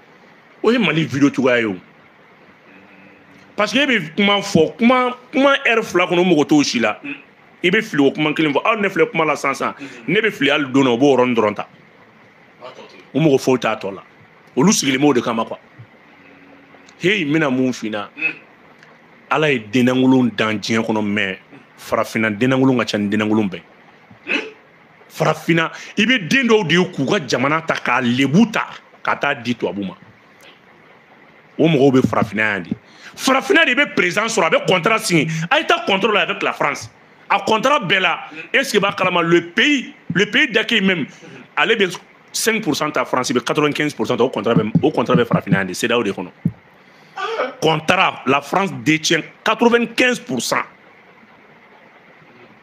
o ye mali video cogoya ye o parce que e bɛ kuma fɔ kuma kuma ɛri fila kɔnɔ u mago t'o si la i bɛ fili ka kuma kelen fɔ aw ne filɛ kuma la sisan sisan ne bɛ fili hali don na u b'o yɔrɔnin dɔrɔn ta u mago foyi t'a tɔ la olu sigilen b'o de kama kuwa heyi n bɛna mun f'i na ala ye dennakolon dan diɲɛ kɔnɔ mɛ farafinna dennakolon ka ca ni dennakolon bɛɛ farafinna i bɛ den dɔw de ye k'u ka jamana ta k'a lebu ta ka taa di tubabu ma o mɔgɔw bɛ farafinna yan de farafinna de i bɛ perezidan sɔrɔ a bɛ kɔntara siɲɛ a ye taa kɔntara la avec la france a kɔntara bɛɛ la esike b'a kalama le pays le pays d'accueil même ale bɛ 5 pourcent ta faransi bɛ 95 pourcent ta o kɔntara bɛ o kɔntara bɛ farafinna yan de cedeao de kɔnɔ kɔntara la france détient 95 pourcent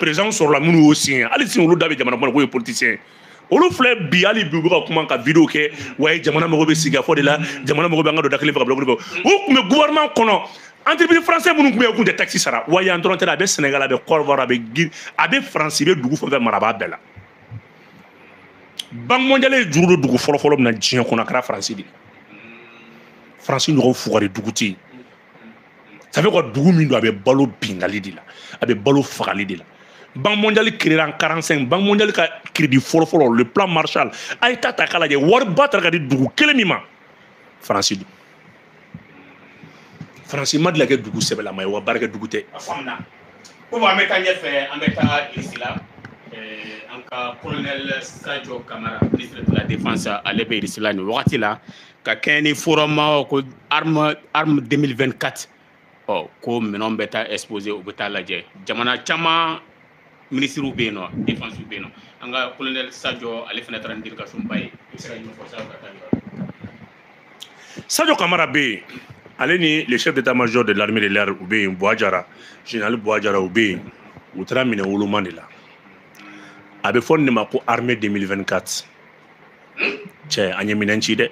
perezidanw sɔrɔla minnu y'o siɲɛ hali sini olu de bɛ jamana kɔnɔ k'u ye politisiyɛn olu filɛ bi hali bi u bɛ ka kuma ka video kɛ wa ye jamana mago bɛ sigikafɔ de la jamana mago bɛ an ka don da kelen fɛ ka bɔ da kelen fɛ u tun bɛ gouvernement kɔnɔ entreprise français minnu tun bɛ yen u tun tɛ taxe sara wa yan dɔrɔn tɛ dɛ a bɛ Sénégal a bɛ Côte d'Ivoire a bɛ Guinée a bɛ France bɛ dugu fɛn fɛn mara a b'a bɛɛ la banque mondiale ye juru don dugu fɔlɔfɔlɔ min na diɲɛ kɔnɔ a kɛra France de ye France ɲɔgɔn fugari dugu tɛ yen ça fait que dugu min don a bɛ balo binkanni de la a bɛ balo fagali de la banque mondiale créera en 45 banque mondiale ka crédit fɔlɔfɔlɔ le plan marshall a ye taa ta k'a lajɛ wariba tara ka di dugu kelen min ma faransi don faransi ma deli ka kɛ dugu sɛbɛlama ye wa baarakɛ dugu tɛ a faamuna komi an bɛ taa ɲɛfɛ an bɛ taa irisi la an ka colonel sajo kamara ministre de la défense ale bɛ irisi la nin wagati la ka kɛɲɛ ni forum ko armée armée 2024 ɔ ko minɛnw bɛ taa exposé u bɛ taa lajɛ jamana caman minisiriw bɛ yen nɔ défense bɛ yen nɔ an ka colonel sajɔ ale fana taara ni délégation ba ye i bɛ se ka ɲɛfɔ sajɔ ka taa sajɔ kamara bɛ yen ale ni le chef d'état major de l'armée de l'air u bɛ yen buwa jara général buwa jara u bɛ yen u taara minɛn woloma de la a bɛ fɔ nin de ma ko armée 2024 cɛ, an ye minɛn ci dɛ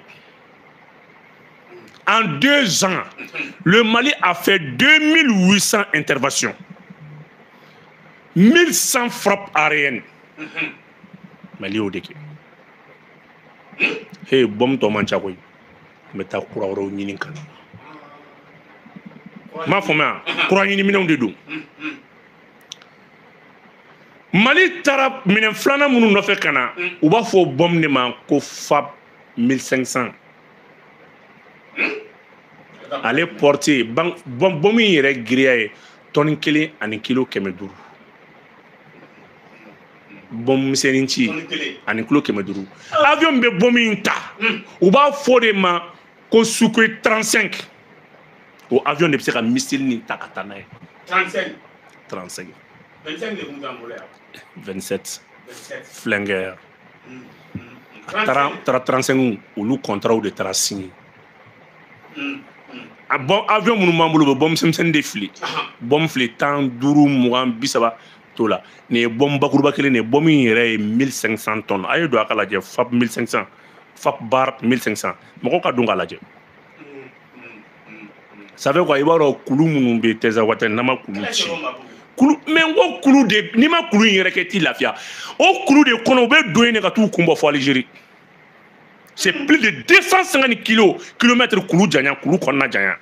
en deux ans le mali a fait 2800 interventions 1100 frappes aériennes mali y'o de kɛ he bɔmu tɔ man ca koyi n bɛ taa kura wɛrɛw ɲini ka na n m'a fɔ n bɛ kura ɲini minɛnw de don mali taara minɛn filanan minnu nɔfɛ ka na u b'a fɔ bɔmu de ma ko fab 1500 ale portée bɔmu in yɛrɛ giriya ye tɔni kelen ani kilo kɛmɛ duuru bɔmu misɛnnin ci ani kilo kɛmɛ duuru avion bɛ bɔmu in ta u b'a fɔ o de ma ko sukhoi 35 o avion de bɛ se ka missile nin ta ka taa n'a ye 35 35 25 de tun t'an bolo yan 27 27 flanker a taara taara 35 olu kɔntaraw de taara signé a bɔ avion minnu b'an bolo u bɛ bɔmu misɛnmisɛnnin de fili bɔmu fili tan duuru mugan bi saba t'o la nin ye bɔmu bakuruba kelen de ye bɔmu in yɛrɛ ye 1500 tonnes a ye don a k'a lajɛ fab 1500 fab bar 1500 mɔgɔ ka don k'a lajɛ ça fait quoi i b'a dɔn kulu minnu bɛ tinzawatɛn n'an ma kulu ci kulu mɛ n ko kulu de n'i ma kulu in yɛrɛ kɛ t'i lafiya o kulu de kɔnɔ u bɛ don yen de ka t'u kun bɔ fɔ alizeri c'est plus de 250 kilo kilomètre kulu janya kulu kɔnɔna janya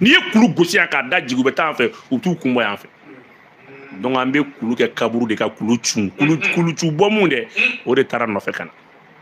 n'i ye kulu gosi yan k'a da jigin u bɛ taa yan fɛ u t'u kun bɔ yan fɛ donc an bɛ kulu kɛ kaburu de ka kulu cun kulu kulu cun bɔmu dɛ o de taara nɔfɛ ka na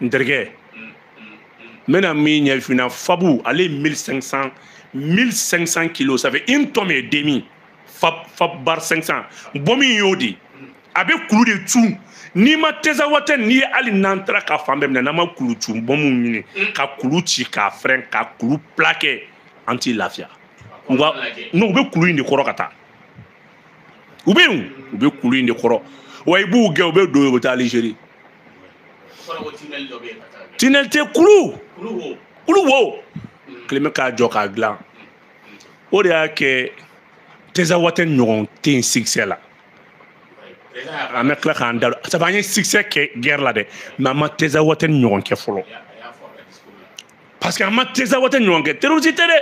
n terikɛ n bɛna min ɲɛfɔ i ɲɛna fab ale ye 1500 1500 kilos ça fait une tonne et demi fab fab bar 500 bɔmu in y'o de a bɛ kulu de cun n'i ma tinzawatɛn n'i ye hali n'an taara ka fan bɛɛ minɛ n'an ma kulu cun bɔmu ɲini ka kulu ci k'a fɛrɛn ka kulu plakɛ an t'i lafiya n'u bɛ kulu in de kɔrɔ ka taa u bɛ yen u bɛ kulu in de kɔrɔ wa i b'u gɛn u bɛ don u bɛ taa alizeri tinɛli tɛ kulu kulu wo kelen bɛ k'a jɔ k'a dilan o de y'a kɛ tɛzawatɛn ɲɔgɔn tɛ yen sikisɛ la an bɛ tila k'an da sabu an ye sikisɛ kɛ gɛrɛ la dɛ mɛ an ma tɛzawatɛn ɲɔgɔn kɛ fɔlɔ parce que an ma tɛzawatɛn ɲɔgɔn kɛ terrorisi tɛ dɛ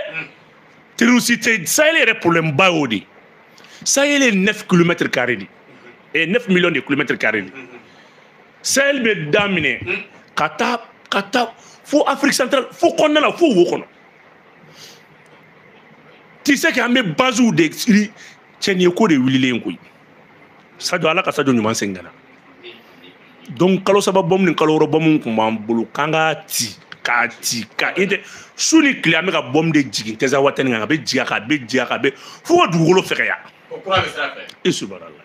terrorisi tɛ sahel yɛrɛ problème ba y'o de sahel ye 9 kilomètre carré de eh 9 millions de kilomètre carré de sahel bɛ daminɛ ka taa ka taa fo afrique centrale fo kɔnɔna la fo wo kɔnɔ ti se k'an bɛ basiw de siri cɛniyeko de wulilen koyi sajo ala ka sajo ɲuman segin ka na donc kalo saba bɔmu ni kalo wɔɔrɔ bɔmu kun b'an bolo k'an ka ti k'a ti ka i tɛ su ni tile an bɛ ka bɔmu de jigin tɛzawatɛn kan a bɛ jigin a kan a bɛ jigin a kan a bɛ fo ka dugukolo fɛgɛya i subarala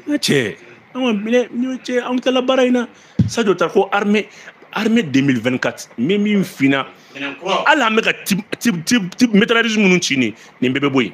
n cɛ an ka minɛ ni cɛ an kilala baara in na sajo ta ko armée armée 2024 min min finna hali an bɛ ka métralisme minnu ci nin nin bɛɛ bɛ bɔ yen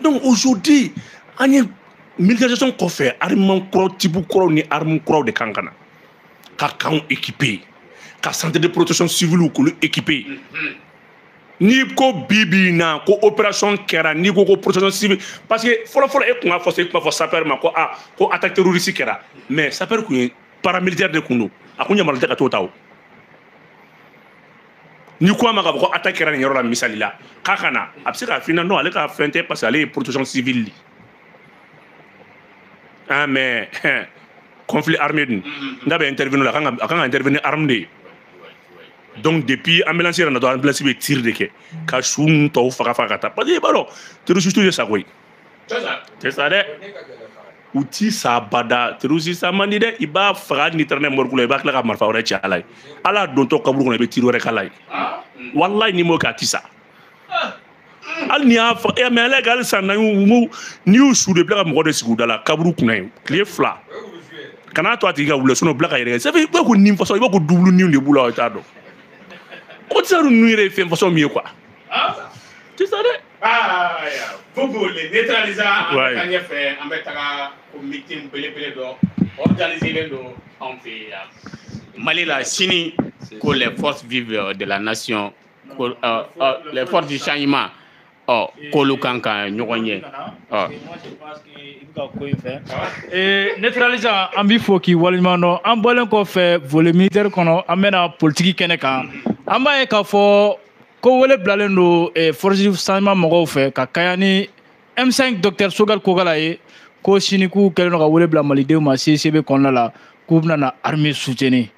donc aujourd'hui an ye militarisation kɔfɛ armement kura tibu kuraw ni arme kuraw de kan ka na ka kanw équiper ka centre de protection civile k'olu équiper n'i ko bi bi in na ko opération kɛra n'i ko ko protection civile parce que fɔlɔfɔlɔ e tun b'a fɔ e tun b'a fɔ sapeur ma ko a ko attaque terroriste kɛra mais sapeur tun ye paramilitaire de tun don a kun yamaruyalen tɛ ka t'o ta o n'i ko a ma ka bɔ ko attaque kɛra nin yɔrɔ la misali la k'a ka na a bɛ se k'a f'i ɲɛna non ale ka fɛn tɛ parce que ale ye protection civile de ah mais conflit armé dun mm-hmm. n'a bɛ intervenir la a kan ka intervenir arme de ye donc depuis ambulance yɛrɛ na dɔrɔn ambulance bɛ tir de kɛ ka su ninnu tɔw faga faga ka taa parce que i b'a dɔn terroriste tɛ sa koyi tɛ sa dɛ u ti sa abada terorisi sa man di dɛ i b'a faga n'i taara n'a ye morigi la i bɛ tila ka marifa wɛrɛ ci a la yen a ladontɔ kaburu kɔnɔ i bɛ tiri wɛrɛ k'a la yen walayi n'i m'o kɛ a ti sa hali n'i y'a faga eh, mɛ ala ka hali san naani n'i y'u su de bila ka mɔgɔ de sigi u da la kaburu kunna yen tile fila kan'a to a tigi ka wuli sinɔn bila ka yɛrɛ kɛ sabu i b'a ko nin fasɔn i b'a ko dubulu niw de b'u la o t'a dɔn ko tisa ninnu yɛrɛ ye fɛn fasɔn min ye ko a ti sa dɛ Bubu le neutralise an bɛ taa ɲɛfɛ an bɛ taga ko meeting belebele dɔ organisé don anw fɛ yan Mali la sini ko les forces vives de la nation ko euh, euh, les forces du changement ɔ k'olu kan ka ɲɔgɔn ye ɔ. neutralise an b'i fo k'i waleɲuman dɔn an bɔlen kɔfɛ volet militaire kɔnɔ an bɛna politiki kɛnɛ kan an b'a ye k'a fɔ ko wele bilalen don eh, force du changement mɔgɔw fɛ ka kaɲa ni m5 docteur Choguel Kokalla ye ko sini k'u kɛlen don ka wele bila malidenw ma cicb kɔnɔna la k'u bɛna na armée soutenir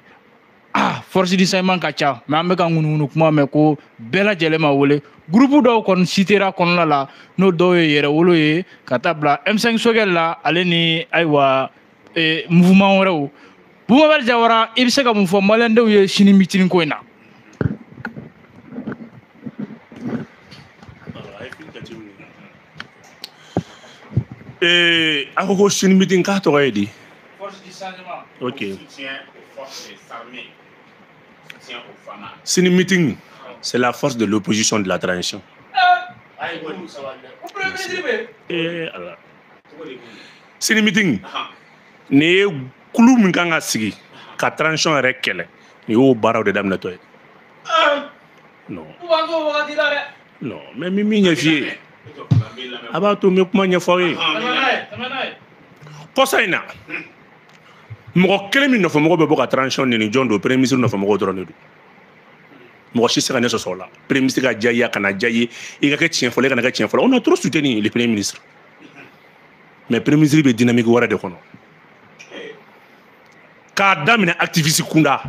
ah force du changement ka ca mais an bɛ ka ŋunuŋunu kuma mɛn ko bɛɛ lajɛlen ma wele gurupu dɔw kɔni sitera kɔnɔna la n'o dɔw ye yɛrɛwolo ye ka taa bila m5 Choguel la ale ni ayiwa eh, mouvement wɛrɛw bubakari jawara i bɛ se ka mun fɔ malidenw ye sini mitini ko in na Eh, a ko ko sini mitin k'a tɔgɔ ye di ok sini mitin c'est la force de l'opposition de la transition Eh, ala sini meeting nin ye kulu min kan ka sigi ka transition yɛrɛ kɛlɛ nin y'o baaraw de daminɛtɔ ye non non mais min min ɲɛf'i ye a b'a to n bɛ kuma ɲɛfɔ aw ye kɔsa in na mɔgɔ kelen min nɔfɛmɔgɔw bɛ bɔ ka transition nɛni jɔn don premier ministre nɔfɛmɔgɔw dɔrɔn de don mɔgɔ si tɛ se ka ne sɔsɔ o la premier ministre ka diya i ye a kana diya i ye i ka kɛ tiɲɛfɔla i kana kɛ tiɲɛfɔla on a trop soutenu le premier ministre mais premier ministre bɛ dynamique wɛrɛ de kɔnɔ k'a daminɛ activiste kunda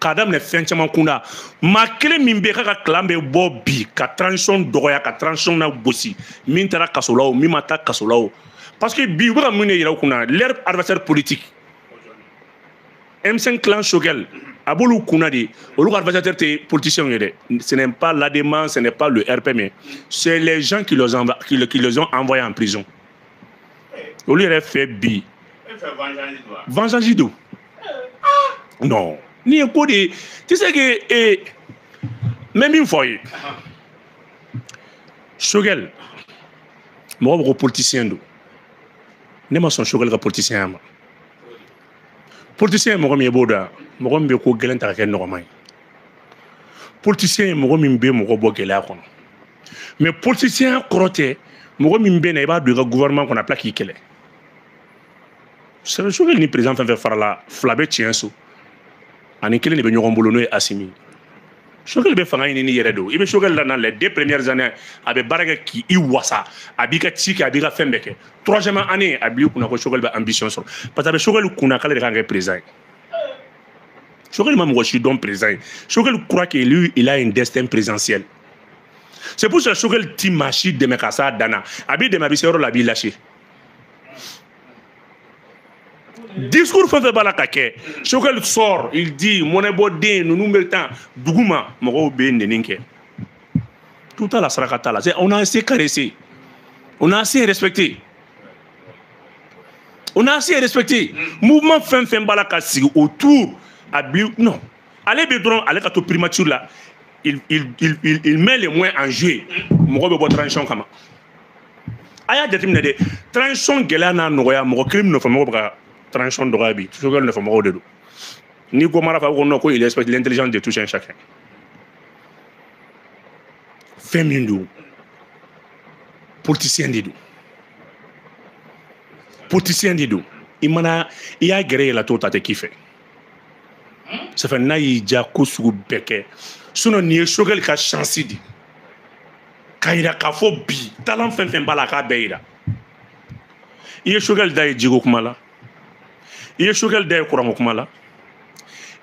k'a daminɛ fɛn caman kunda maa kelen min bɛ k'a ka clan bɛ bɔ bi ka transition dɔgɔya ka transition lagosi min taara kaso la o min ma taa kaso la o parce que bi u bɛ ka mun de yira u kun na leur adversaire politique M5 clan Choguel a b'olu kunna de olu ka adversaire tɛ politiciens ye dɛ ce n'est pas l'ADEMA ce n'est pas le RPM c'est les gens qui les ont qui, qui les ont envoyés en prison olu yɛrɛ fɛ bi vengeance don non n'i ye ko de ye tu sais que eh, n bɛ min fɔ aw ye Choguel mɔgɔ bɛɛ ko politicien don ne ma sɔn Choguel ka politicienya ma politicien ye mɔgɔ min ye i b'o dɔn mɔgɔ min bɛ ko gɛlɛn ta ka kɛ nɔgɔma ye politicien ye mɔgɔ min bɛ mɔgɔ bɔ gɛlɛya kɔnɔ mais politicienya kɔrɔ tɛ mɔgɔ min bɛ na i b'a don i ka gouvernement kɔnɔ a bɛ tila k'i kɛlɛ c'est Choguel ni président fɛn o fɛn farala fila bɛ tiɲɛ so a ni kelen de bɛ ɲɔgɔn bolo n'o ye asimi Choguel bɛ fanga ɲini n'i yɛrɛ don i bɛ Choguel lana les deux premières années a bɛ baara kɛ k'i i wasa a b'i ka ci kɛ a b'i ka fɛn bɛɛ kɛ troisième année a b'i kunna ko Choguel bɛ ambition sɔrɔ parce que a bɛ Choguel kunna k'ale de kan ka kɛ président ye Choguel ma mɔgɔ si dɔn président ye Choguel kunna ko lui il a une destin présidentiel c'est pour ça Choguel ti maa si dɛmɛ ka s'a dan na a b'i dɛmɛ a bɛ se yɔrɔ la a b'i lâcher discours fɛn fɛn b'a la ka kɛ Choguel sort il dit mɔnɛbɔ den ninnu bɛ tan dugu ma mɔgɔw bɛ nɛni kɛ tout t'a la saraka t'a la c'est on a assez caressé on a assez respecté on a assez respecté mouvement fɛn fɛn b'a la ka sigi autour a bi non ale bɛ dɔrɔn ale ka to primature la il, il, il, il, il met les moyens en jeu mɔgɔ bɛ bɔ transition kama a y'a jateminɛ dɛ transition gɛlɛya n'a nɔgɔya mɔgɔ kelen min nɔfɛ mɔgɔ bɛ ka transition dɔgɔya bi Choguel nɔfɛ mɔgɔw de don n'i ko mara fa ko non ko il respecte l'intelligence de tout un chacun fɛn min don politicien de don politicien de don i mana i y'a gɛrɛ yɛlɛ t'o ta tɛ k'i fɛ sɛfɛ n'a y'i ja ko sugu bɛɛ kɛ sinɔn nin ye sogɛli ka shansi di k'a yira k'a fɔ bi talan fɛn fɛn b'a la a k'a bɛɛ yira i ye sogɛli da ye jiko kuma la i ye sogɛli da ye kuranko kuma la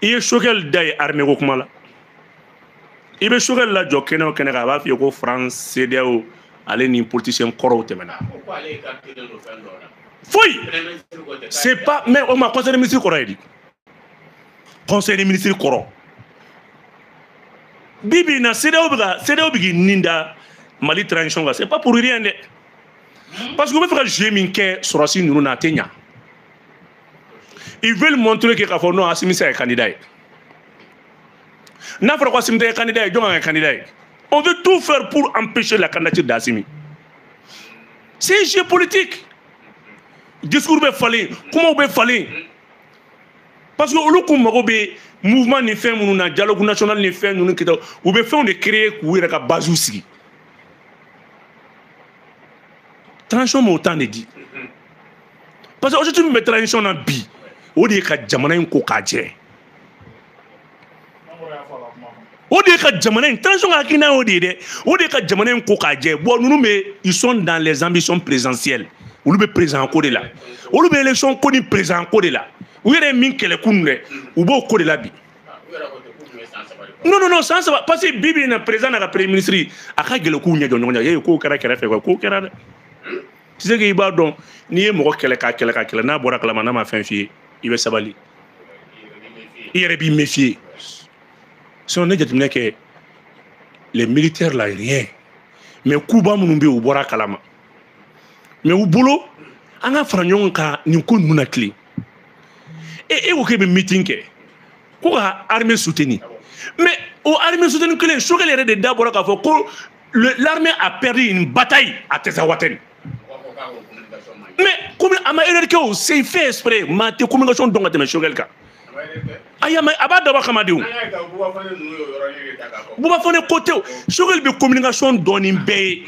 i ye sogɛli da ye arimeko kuma la i bɛ Choguel lajɔ kɛnɛ o kɛnɛ kan a b'a f'i ye ko France CEDEAO ale ni politicien kɔrɔw tɛmɛna foyi c'est pas mais o ma conseil de ministre kɔrɔ ye di conseil de ministre kɔrɔ bi bi in na CEDEAO bɛ ka CEDEAO bɛ k'i nin da mali transition kan c'est pas pour rien dɛ parce que u bɛ fɛ ka jeu min kɛ sɔrɔdasi ninnu na a tɛ ɲa ils veulent montrer que k'a fɔ non asimi tɛ candidat ye n'a fɔra ko asimi tɛ kandida ye jɔn ka kɛ kandida ye on veut tout faire pour empêcher la candidature d'asimi c'est un jeu politique discours bɛ falen kumaw bɛ falen parce que olu kun mago bɛ mouvement ni fɛn minnu na dialogue national ni fɛn ninnu kita u bɛ fɛnw de créer k'u yɛrɛ ka base sigi transition m'o temps de di parce que objectif min bɛ transition na bi o de ye ka jamana in ko k'a jɛ o de ye ka jamana in transition ka hakilina y'o de ye dɛ o de ye ka jamana in ko k'a jɛ bon ninnu bɛ ils sont dans les ambitions présidentielles olu bɛ président ko de la olu bɛ élection ko ni président ko de la u yɛrɛ ye min kɛlɛ kunun dɛ u b'o ko de la bi. non non non san saba parce que bi bi in na président n'a ka premier ministre a ka gɛlɛn k'u ɲɛ jɔ ɲɔgɔn na ee k'o kɛra kɛrɛfɛ quoi k'o kɛra dɛ. tɛ se k'i b'a dɔn n'i ye mɔgɔ kɛlɛ k'a kɛlɛ k'a kɛlɛ n'a bɔra kalama n'a ma fɛn f'i ye i bɛ sabali i yɛrɛ b'i méfier sinon ne jateminɛ kɛ les militaires la rien mais kunba minnu bɛ yen u bɔra kalama mais u bolo an ka fara ɲɔgɔn kan nin ko ninnu natilen e e ko k'e bɛ meeting kɛ ko ka armée soutenir mais o armée soutenir kelen sogɛli yɛrɛ de da bɔra k'a fɔ ko L'armée a perdu une bataille à Tinzaouatène. Mais comme a ma erreur kɛ c'est fait exprès maa tɛ communication dɔn ka tɛmɛ Choguel kan. ayi a ma a b'a dabɔ kama de o. Bouba Fané ko tɛ o Choguel bɛ communication dɔn ni bɛɛ ye.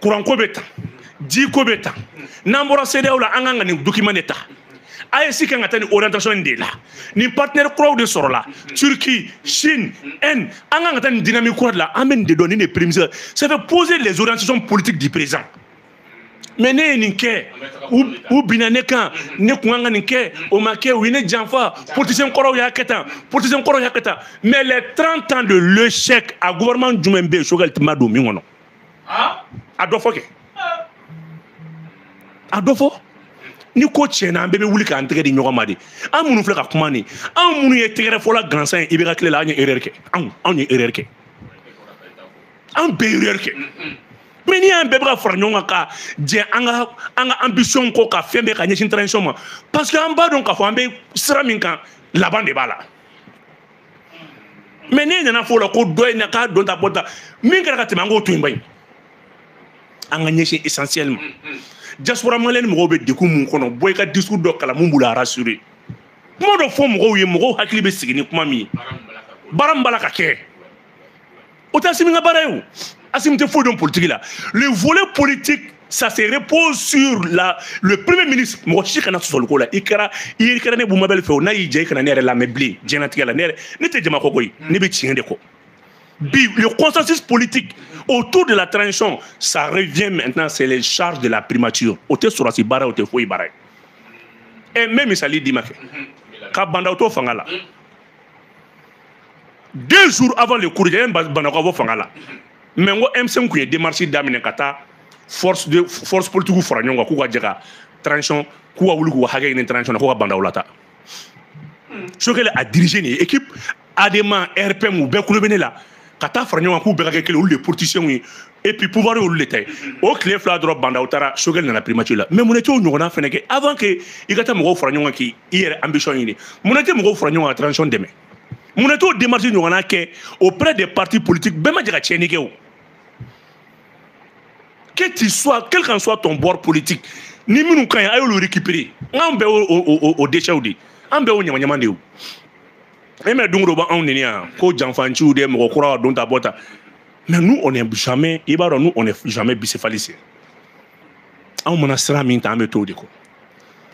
kuranko bɛ ta jiko bɛ ta n'an bɔra CEDEAO la an kan ka nin document de ta AES kan ka taa nin orientation in de la nin partenaire kuraw de sɔrɔla Turquie Chine Inde an kan ka taa nin dynamique kura de la an bɛ nin de dɔn nin de prémices ça fait poser les orientations politiques du présent mais ne ye nin kɛ u binna ne kan ne kun kan ka nin kɛ o ma kɛ u ye ne janfa politicien kɔrɔw y'a kɛ tan politicien kɔrɔw y'a kɛ tan mais les 30 ans de l'échec a gouvernement jumɛn bɛ yen Choguel ma don min kɔnɔ a dɔ fɔ kɛ a dɔ fɔ ni ko tiɲɛna an bɛɛ bɛ wuli k'an tɛgɛ di ɲɔgɔn ma de an minnu filɛ ka kuma nin an minnu ye tɛgɛrɛ fɔla gansan ye i bɛ ka tile la an ye erreur kɛ anw anw ye erreur kɛ an bɛɛ erreur kɛ mais ni an bɛɛ bɛ ka fara ɲɔgɔn kan ka jɛ an ka an ka ambition ko ka fɛn bɛɛ ka ɲɛsin transition ma parce que an b'a dɔn k'a fɔ an bɛ sira min kan laban de b'a la mais n'e nana fɔ o la ko dɔ in na k'a don ta bɔ ta min kɛra ka tɛmɛ an k'o to yen bayi an ka ɲɛsin essentiel ma diaspora malienne mɔgɔw bɛ degun mun kɔnɔ bɔ i ka discours dɔ kalan mun b'u la rassurer kuma dɔ fɔ mɔgɔw ye mɔgɔw hakili bɛ sigi ni kuma min ye baara min b'a la ka kɛ o tɛ Assimi ka baara ye o Assimi tɛ foyi dɔn politiki la le volet politique ça se repose sur la le premier ministre mɔgɔ si kana sɔsɔli k'o la i kɛra i y'i kɛra ne Boubou Mabel fɛ o n'a y'i diya i kana ne yɛrɛ lamɛn bilen diɲɛnatigɛ la ne yɛrɛ ne tɛ jama kɔkɔ ye ne bɛ tiɲɛ de kɔ bi le consensus politique autour de la transition ça revient maintenant c'est les charges de la primature o tɛ sɔrɔdasi baara o tɛ foyi baara ye ɛ n bɛ misali d'i ma kɛ ka Bah N'Daw to fanga la deux jours avant le coup yanni Bah N'Daw ka bɔ fanga la mais n ko M5 tun ye démarche daminɛ ka taa force de force politique fara ɲɔgɔn kan k'u ka jɛ ka transition k'u ka wuli k'u ka hakɛ ɲini transition na k'u ka Bah N'Daw lata Choguel a dirigé une équipe ADEMA RPM u bɛɛ kun bɛ ne la ka taa fara ɲɔgɔn kan k'u bɛɛ ka kɛ kelen olu de ye politiciens ye et puis pouvoir ye olu de ta ye o tile fila dɔrɔn Bah N'Daw taara Choguel nana primature la mais munna e t'o ɲɔgɔnna fɛnɛ kɛ avant que i ka taa mɔgɔw fara ɲɔgɔn kan k'i i yɛrɛ ambition ɲini munna e tɛ mɔgɔw fara ɲɔgɔn kan ka transition dɛmɛ munna e t'o démarche ɲɔgɔnna kɛ auprès des partis politiques bɛɛ ma jɛ ka tiɲɛni kɛ o que tu sois quel qu'en soit ton bord politique ni minnu ka ɲi a y'olu récupérer n k'an bɛɛ o o o o déchets de ye an bɛɛ o ɲamaɲama de ye o e mais don o don b'anw neni yan ko janfanciw de mɔgɔ kura ka don ta bɔ ta mais nous on est jamais i b'a dɔn nous on est jamais bicéphaliste anw mana sira min ta an bɛ t'o de kɔ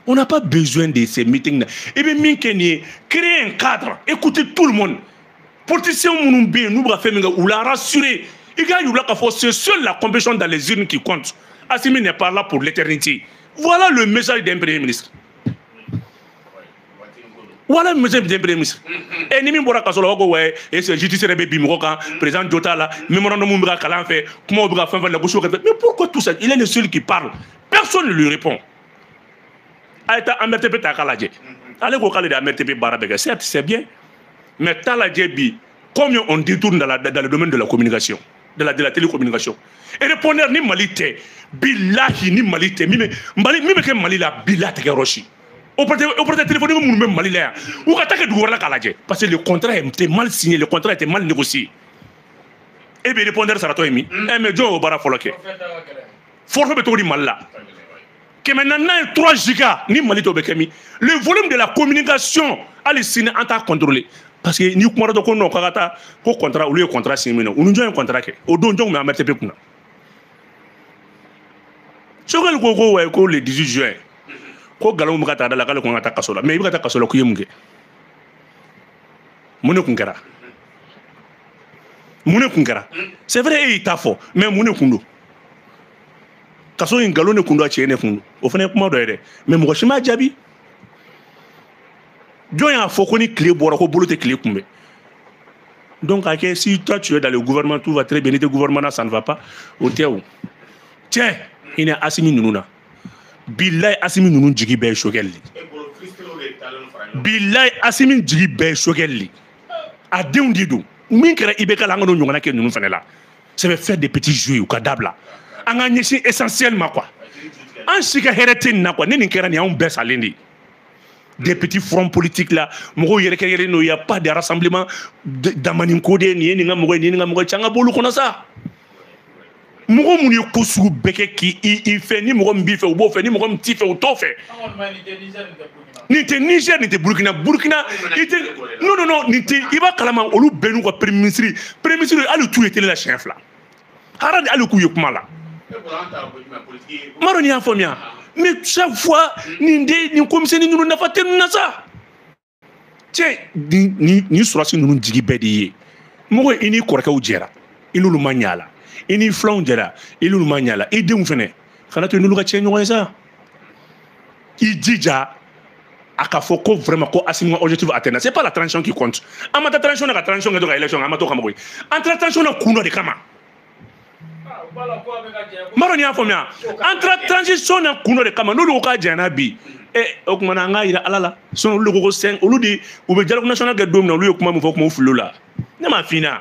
on n'a pas besoin de ces meetings là i bɛ min kɛ nin ye créer un cadre écouter tout le monde politiciens minnu bɛ yen n'u bɛ ka fɛn min kɛ u la rassurer i k'a yir'u la k'a fɔ c'est seule la compétition dans les urnes qui compte Assimi n'est pas là pour l'éternité voilà le message d'un premier ministre voilà monsieur le premier ministre e ni min bɔra kaso la ko wayi justice de bɛ bin mɔgɔ kan président jo t'a la memorandum bɛ ka kalan fɛ kumaw bɛ ka fɛn fɛn lagosi o kɛrɛfɛ mais pourquoi tout ça il est le seul qui parle personne ne lui répond a ye taa AMRTP ta k'a lajɛ ale ko k'ale de AMRTP baara bɛɛ kɛ certes c'est bien mais t'a lajɛ bi combien on détourne dans, la, dans le domaine de la communication de la, de la télécommunication et répondeur ni mali tɛ bilahi ni mali tɛ min bɛ mali min bɛ kɛ mali la bilahi tɛ kɛ yɔrɔ si opérateur téléphonique minnu bɛ mali la yan u ka taa kɛ dugu wɛrɛ la k'a lajɛ parce que le contrat était mal signé le contrat était mal négocié e bɛ répondeur saratɔ ye min ɛ mais jɔn y'o baara fɔlɔ kɛ forfait bɛ cogo di mali la kɛmɛ naani ye 3 giga ni mali t'o bɛ kɛ min le volume de la communication hali sini an t'a contrôler parce que n'i kumana dɔ ko non k'a ka taa ko contrat olu ye contrat signé min na u ni jɔn ye contrat kɛ o don jɔn tun bɛ AMRTP kunna Choguel ko ko wayi ko le 18 juin ko nkalon bɛ ka taa d'a la k'ale ko n ka taa kaso la mais i bɛ ka taa kaso la k'i ye mun kɛ mun de tun kɛra mun de tun kɛra c'est vrai e y'i ta fɔ mais mun de tun don kaso in nkalon de tun don a tiɲɛ de tun don o fana ye kuma dɔ ye dɛ mais mɔgɔ si m'a jaabi jɔn y'a fɔ ko ni tile bɔra ko bolo tɛ tile kunbɛn donc a kɛ si toi tu es dans le gouvernement tout va très bien n'i tɛ gouvernement na ça ne va pas o tɛ o tiɲɛ i ni asimi ninnu na bilayi asimi ninnu jigi bɛɛ ye Choguel de bilayi asimi jigi bɛɛ ye Choguel de a denw de don min kɛra IBK la an kan'o ɲɔgɔnna kɛ ninnu fana la ça veut faire des petits jeux u k'a dabila an ka ɲɛsin essentiel ma quoi an si ka hɛrɛ tɛ nin na quoi ni nin kɛra nin y'anw bɛɛ salen de ye des petits fronts politiques là mɔgɔw yɛrɛkɛyɛrɛkɛlen don il y a pas de rassemblement damani ko de nin ye nin ka mɔgɔ ye nin ye nin ka mɔgɔ ye cɛ an ka b'olu kɔnɔ sa mɔgɔ minnu ye ko sugu bɛɛ kɛ k'i i fɛ ni mɔgɔ min b'i fɛ u b'o fɛ ni mɔgɔ min t'i fɛ u t'o fɛ nin tɛ niger nin tɛ burkina burkina i tɛ non non non nin tɛ i b'a kalama olu bɛɛ n'u ka premier ministre premier ministre hali i t'u ye tele la siɲɛ fila hara de hali k'u ye kuma la maro n'i y'a faamuya mais chaque fois nin de nin komisɛni ninnu nafa tɛ ninnu na sa cɛ nin surasi ninnu jigi bɛɛ de ye mɔgɔ i n'i kɔrɔkɛw jɛra i n'olu ma ɲa la i n'i filanw jɛra i n'olu ma ɲa la i denw fɛnɛ kana to n'olu ka tiɲɛ ɲɔgɔn ye sa i jija a ka fɔ ko vraiment ko Assimi ka objectif atteindre c'est pas la transition qui compte an ma taa transition na ka transition kɛ to ka élection kɛ an ma t'o kama koyi an taara transition na kun dɔ de kama maro ni y'a faamuya an taara transition na kun dɔ de kama n'olu ko k'a janyana bi e o tuma na an k'a jira ala la sinon olu de ko ko sɛn olu de u bɛ dialogue national kɛ don min na olu ye kuma min fɔ kuma u fili o la ne m'a f'i ɲɛna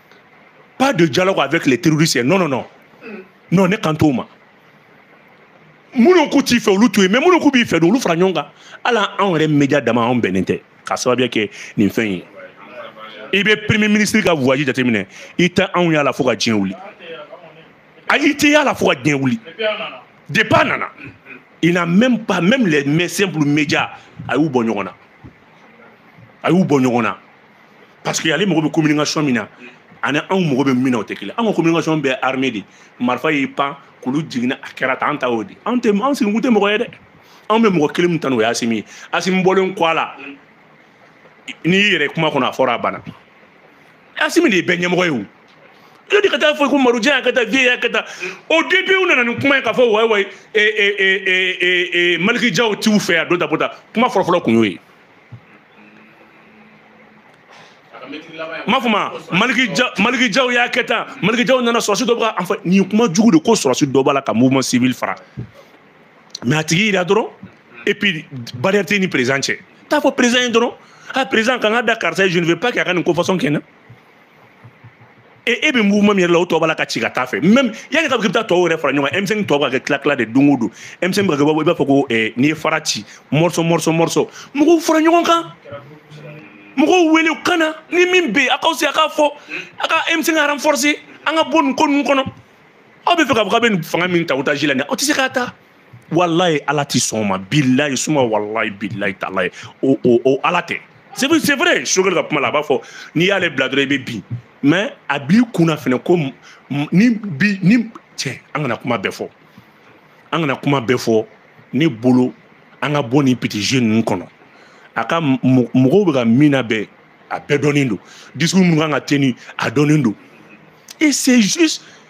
pas de dialogue avec les terroristes non non non non ne kan t'o ma minnu k'u t'i fɛ olu to yen mais minnu k'u b'i fɛ don olu fara ɲɔgɔn kan hali anw yɛrɛ media dama anw bɛnnen tɛ k'a sababuya kɛ nin fɛn ye i bɛ premier ministre ka voyage jateminɛ i tɛ anw y'a la fo ka diɲɛ wuli a i tɛ y'a la fo ka diɲɛ wuli depuis a nana il n'a même pas même les simples médias a y'u bɔ ɲɔgɔn na a y'u bɔ ɲɔgɔn na parce que ale mago bɛ communication min na ani anw mago bɛ min na o tɛ kelen an ka communication bɛɛ armée de marifa ye pankulu jiginna a kɛra tan an ta y'o de anw tɛ anw sigikun tɛ mɔgɔ ye dɛ anw bɛ mɔgɔ kelen min tan o ye Assimi ye Assimi bɔlen kɔ a la n'i y'i yɛrɛ kuma kɔnɔ a fɔra a banna Assimi de ye bɛɛ ɲɛmɔgɔ ye o yo de ka taa fɔ ko marojan y'a ka taa viye y'a ka taa o dɔ nana ni kuma ye k'a fɔ wayi wayi Malick Diaw t'u fɛ yan don ta bota kuma fɔlɔfɔlɔ kun y'o ye ma fɔ ma Malick Diaw y'a kɛ tan Malick Diaw nana sɔrɔsi dɔ b'a fɔ nin kuma jugu de ko sɔrɔsi dɔ b'a la ka mouvement civil fara mais a tigi yira dɔrɔn et puis barrière tɛ ni président cɛ taa fɔ président ye dɔrɔn a président kan ka da karisa ye je ne veux pas k'a ka nin ko façon kɛ na e e bɛ mouvement min yɛrɛ la o tɔ b'a la ka ci ka t'a fɛ même yanni k'a k'i bɛ taa tɔw yɛrɛ fara ɲɔgɔn kan M5 tɔ bɛ ka kɛ tila tila de don o don M5 bɛ ka kɛ i b'a fɔ ko eh, n'i ye fara ci morceau morceau morceau mɔgɔw fara ɲɔgɔn kan mɔgɔw wele u ka na ni min bɛ yen a k'aw se a k'a fɔ a ka M5 renforcer an ka bɔ nin ko ninnu kɔnɔ aw b'a fɛ k'a fɔ k'a bɛ nin fanga min ta otage la nin aw tɛ se k'a ta. walayi ala ti sɔn o ma bilayi suma walayi bilayi talayi o o o ala tɛ c'est vrai c'est vrai Choguel ka kuma la a b'a fɔ n'i y'ale bila dɔrɔn i bɛ bin mais a b'i kunna fɛnɛ kɔni bi ni cɛ an kana kuma bɛɛ fɔ an kana kuma bɛɛ fɔ ne bolo an ka bɔ nin petit jeu ninnu kɔnɔ a ka mɔgɔw bɛ ka min nabɛn a bɛɛ dɔnnen don discours minnu ka kan ka tenir a dɔnnen don et c'est juste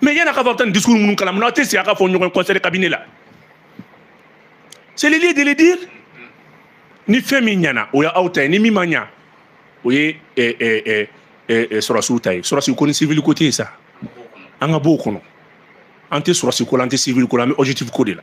mais yann'a ka fɔ tan discours minnu kalan munna aw tɛ sigi a ka fɔ ɲɔgɔn conseil cabinet la c'est le lieu de le dire ni fɛn min ɲana o ye aw ta ye ni min ma ɲa o ye sɔrɔsiw ta ye sɔrɔsi ko ni civil ko tɛ yen sa an ka b'o kɔnɔ an tɛ sɔrɔsi ko la an tɛ civil ko la an bɛ objectif ko de la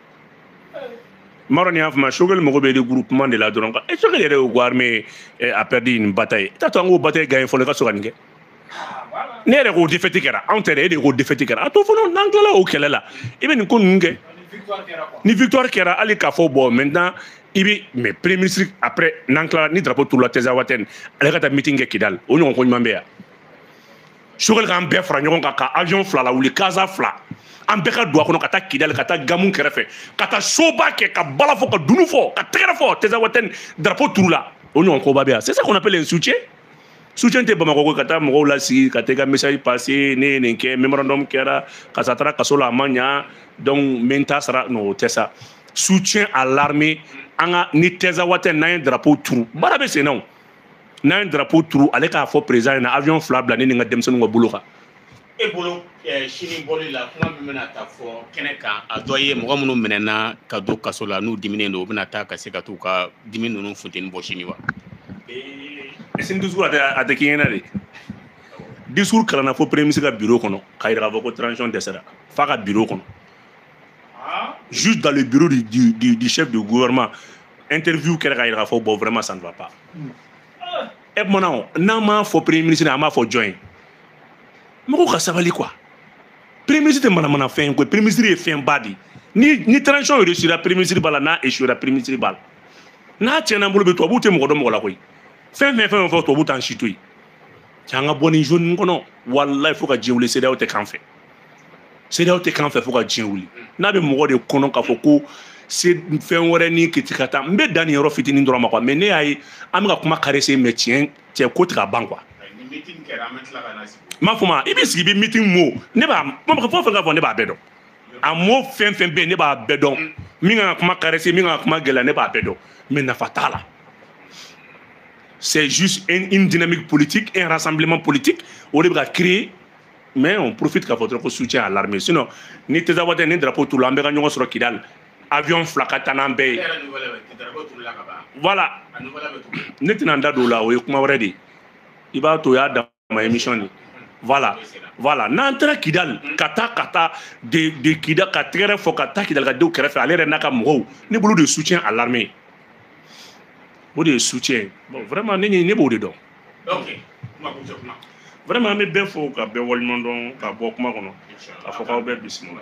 maro ni y'a fama choguel maïga bɛ regroupement de la dɔrɔn e choguel yɛrɛ y'o ko armée a perdu une bataille i t'a to an k'o bataille gagner fɔlɔ i ka sɔrɔ ka nin kɛ e yɛrɛ ko défaite kɛra anw tɛ dɛ e de ko défaite kɛra a to fɔlɔ n'an tilala o kɛlɛ la i bɛ nin ko ninnu kɛ ni victoire kɛra hali k'a fɔ bɔn maintenant i bɛ mais premier ministre après n'an tilala ni drapeau turula tezawatɛni ale ka taa meeting kɛ kidali o ɲɔgɔn ko ɲuman bɛ yan choguel k'an bɛɛ fara ɲɔgɔn kan ka avion fila lawuli kaza fila an bɛɛ ka don a kɔnɔ ka taa kidali ka taa gamu kɛrɛfɛ ka taa show ba kɛ ka bala fɔ ka dunu fɔ ka tɛgɛrɛ fɔ tezawatɛni drapeau turula o ɲɔgɔn koba bɛ yan c'est ça qu'on appelle un soutien soutien tɛ bamakɔ ko ka taa mɔgɔw lasigi ka taa i ka message passer ne ye nin kɛ memorandum kɛra karisa taara kaso la a ma ɲa donc n bɛ n ta sara non o tɛ sa soutien à l'armée an ka ni tezawatɛni n'an ye drapeau turu baara bɛ sen na o n'an ye drapeau turu ale k'a fɔ président ɲɛna avion fila bila ne ni n ka denmisɛnninw ka bolo kan e bolo eh, sini bɔli la kuma min bɛna ta fɔ kɛnɛ kan a dɔ ye mɔgɔ minnu minɛna ka don kaso la n'u diminen don u bɛna taa ka se ka t'u ka dimi ninnu funteni bɔ sini wa eh, sini discours a tɛ a tɛ k'i ɲɛna des discours kalanna fo premier ministre ka bureau kɔnɔ k'a jira k'a fɔ ko transition dɛsɛra f'a ka bureau kɔnɔ ah. jusque dans le bureau du, du, du, du chef de gouvernement interview kɛra ka yira k'a fɔ bon vraiment ça ne va pas hmm. e kumana o n'an m'a fɔ premier ministre an b'a fɔ jɔn ye mɔgɔw ka sabali quoi premier ministre tɛ manamana fɛn ye koyi premier ministre ye fɛnba de ye ni ni transition réussira premier ministre b'a la n'a échouera premier ministre b'a la n'a tiɲɛna bolo bɛ tubabuw tɛ mɔgɔ dɔn mɔgɔ la koyi fɛn fɛn fɛn fɔ tubabuw t'an si to yen cɛ an ka bɔ nin zone nin kɔnɔ walayi fo ka diɲɛ wuli cedeao tɛ k'an fɛ cedeao tɛ k'an fɛ fo ka diɲɛ wuli n'a bɛ mɔgɔ de kɔnɔ k'a fɔ ko c'est fɛn wɛrɛ ni kiti ka taa n bɛ dan nin yɔrɔ fitinin dɔrɔn ma quoi mais ne y'a ye an bɛ ka kuma caresser mais tiɲɛ cɛ ko tɛ ka ban quoi m'a fɔ ma i bɛ sigi bɛ miti mo ne b'a fɔ fɛn ka fɔ ne b'a bɛɛ dɔn a mo fɛn fɛn bɛ yen ne b'a bɛɛ dɔn min ka kuma caresser min ka kuma gɛlɛya ne b'a bɛɛ dɔn mais nafa t'a la c'est juste une dynamique politique un rassemblement politique o de bɛ ka créer mais on profite k'a fɔ dɔrɔn ko soutien à l'armée sinon ni tezawatɛni drapeau turula an bɛɛ ka ɲɔgɔn sɔrɔ kidal avion fila ka taa n'an bɛɛ ye voilà ne tɛna n da don o la o ye kuma wɛrɛ de ye i b'a to o y'a dama émission de voilà voilà n'an taara kidal ka taa ka taa de de kida ka tɛgɛrɛ fɔ ka taa kidal ka denw kɛrɛfɛ ale yɛrɛ n'a ka mɔgɔw ne bolo de soutien à l'armée o de ye soutien bon vraiment ne ne b'o de dɔn vraiment an bɛ bɛɛ fo ka bɛɛ waleɲuman dɔn ka bɔ kuma kɔnɔ aw fo k'aw bɛɛ bisimila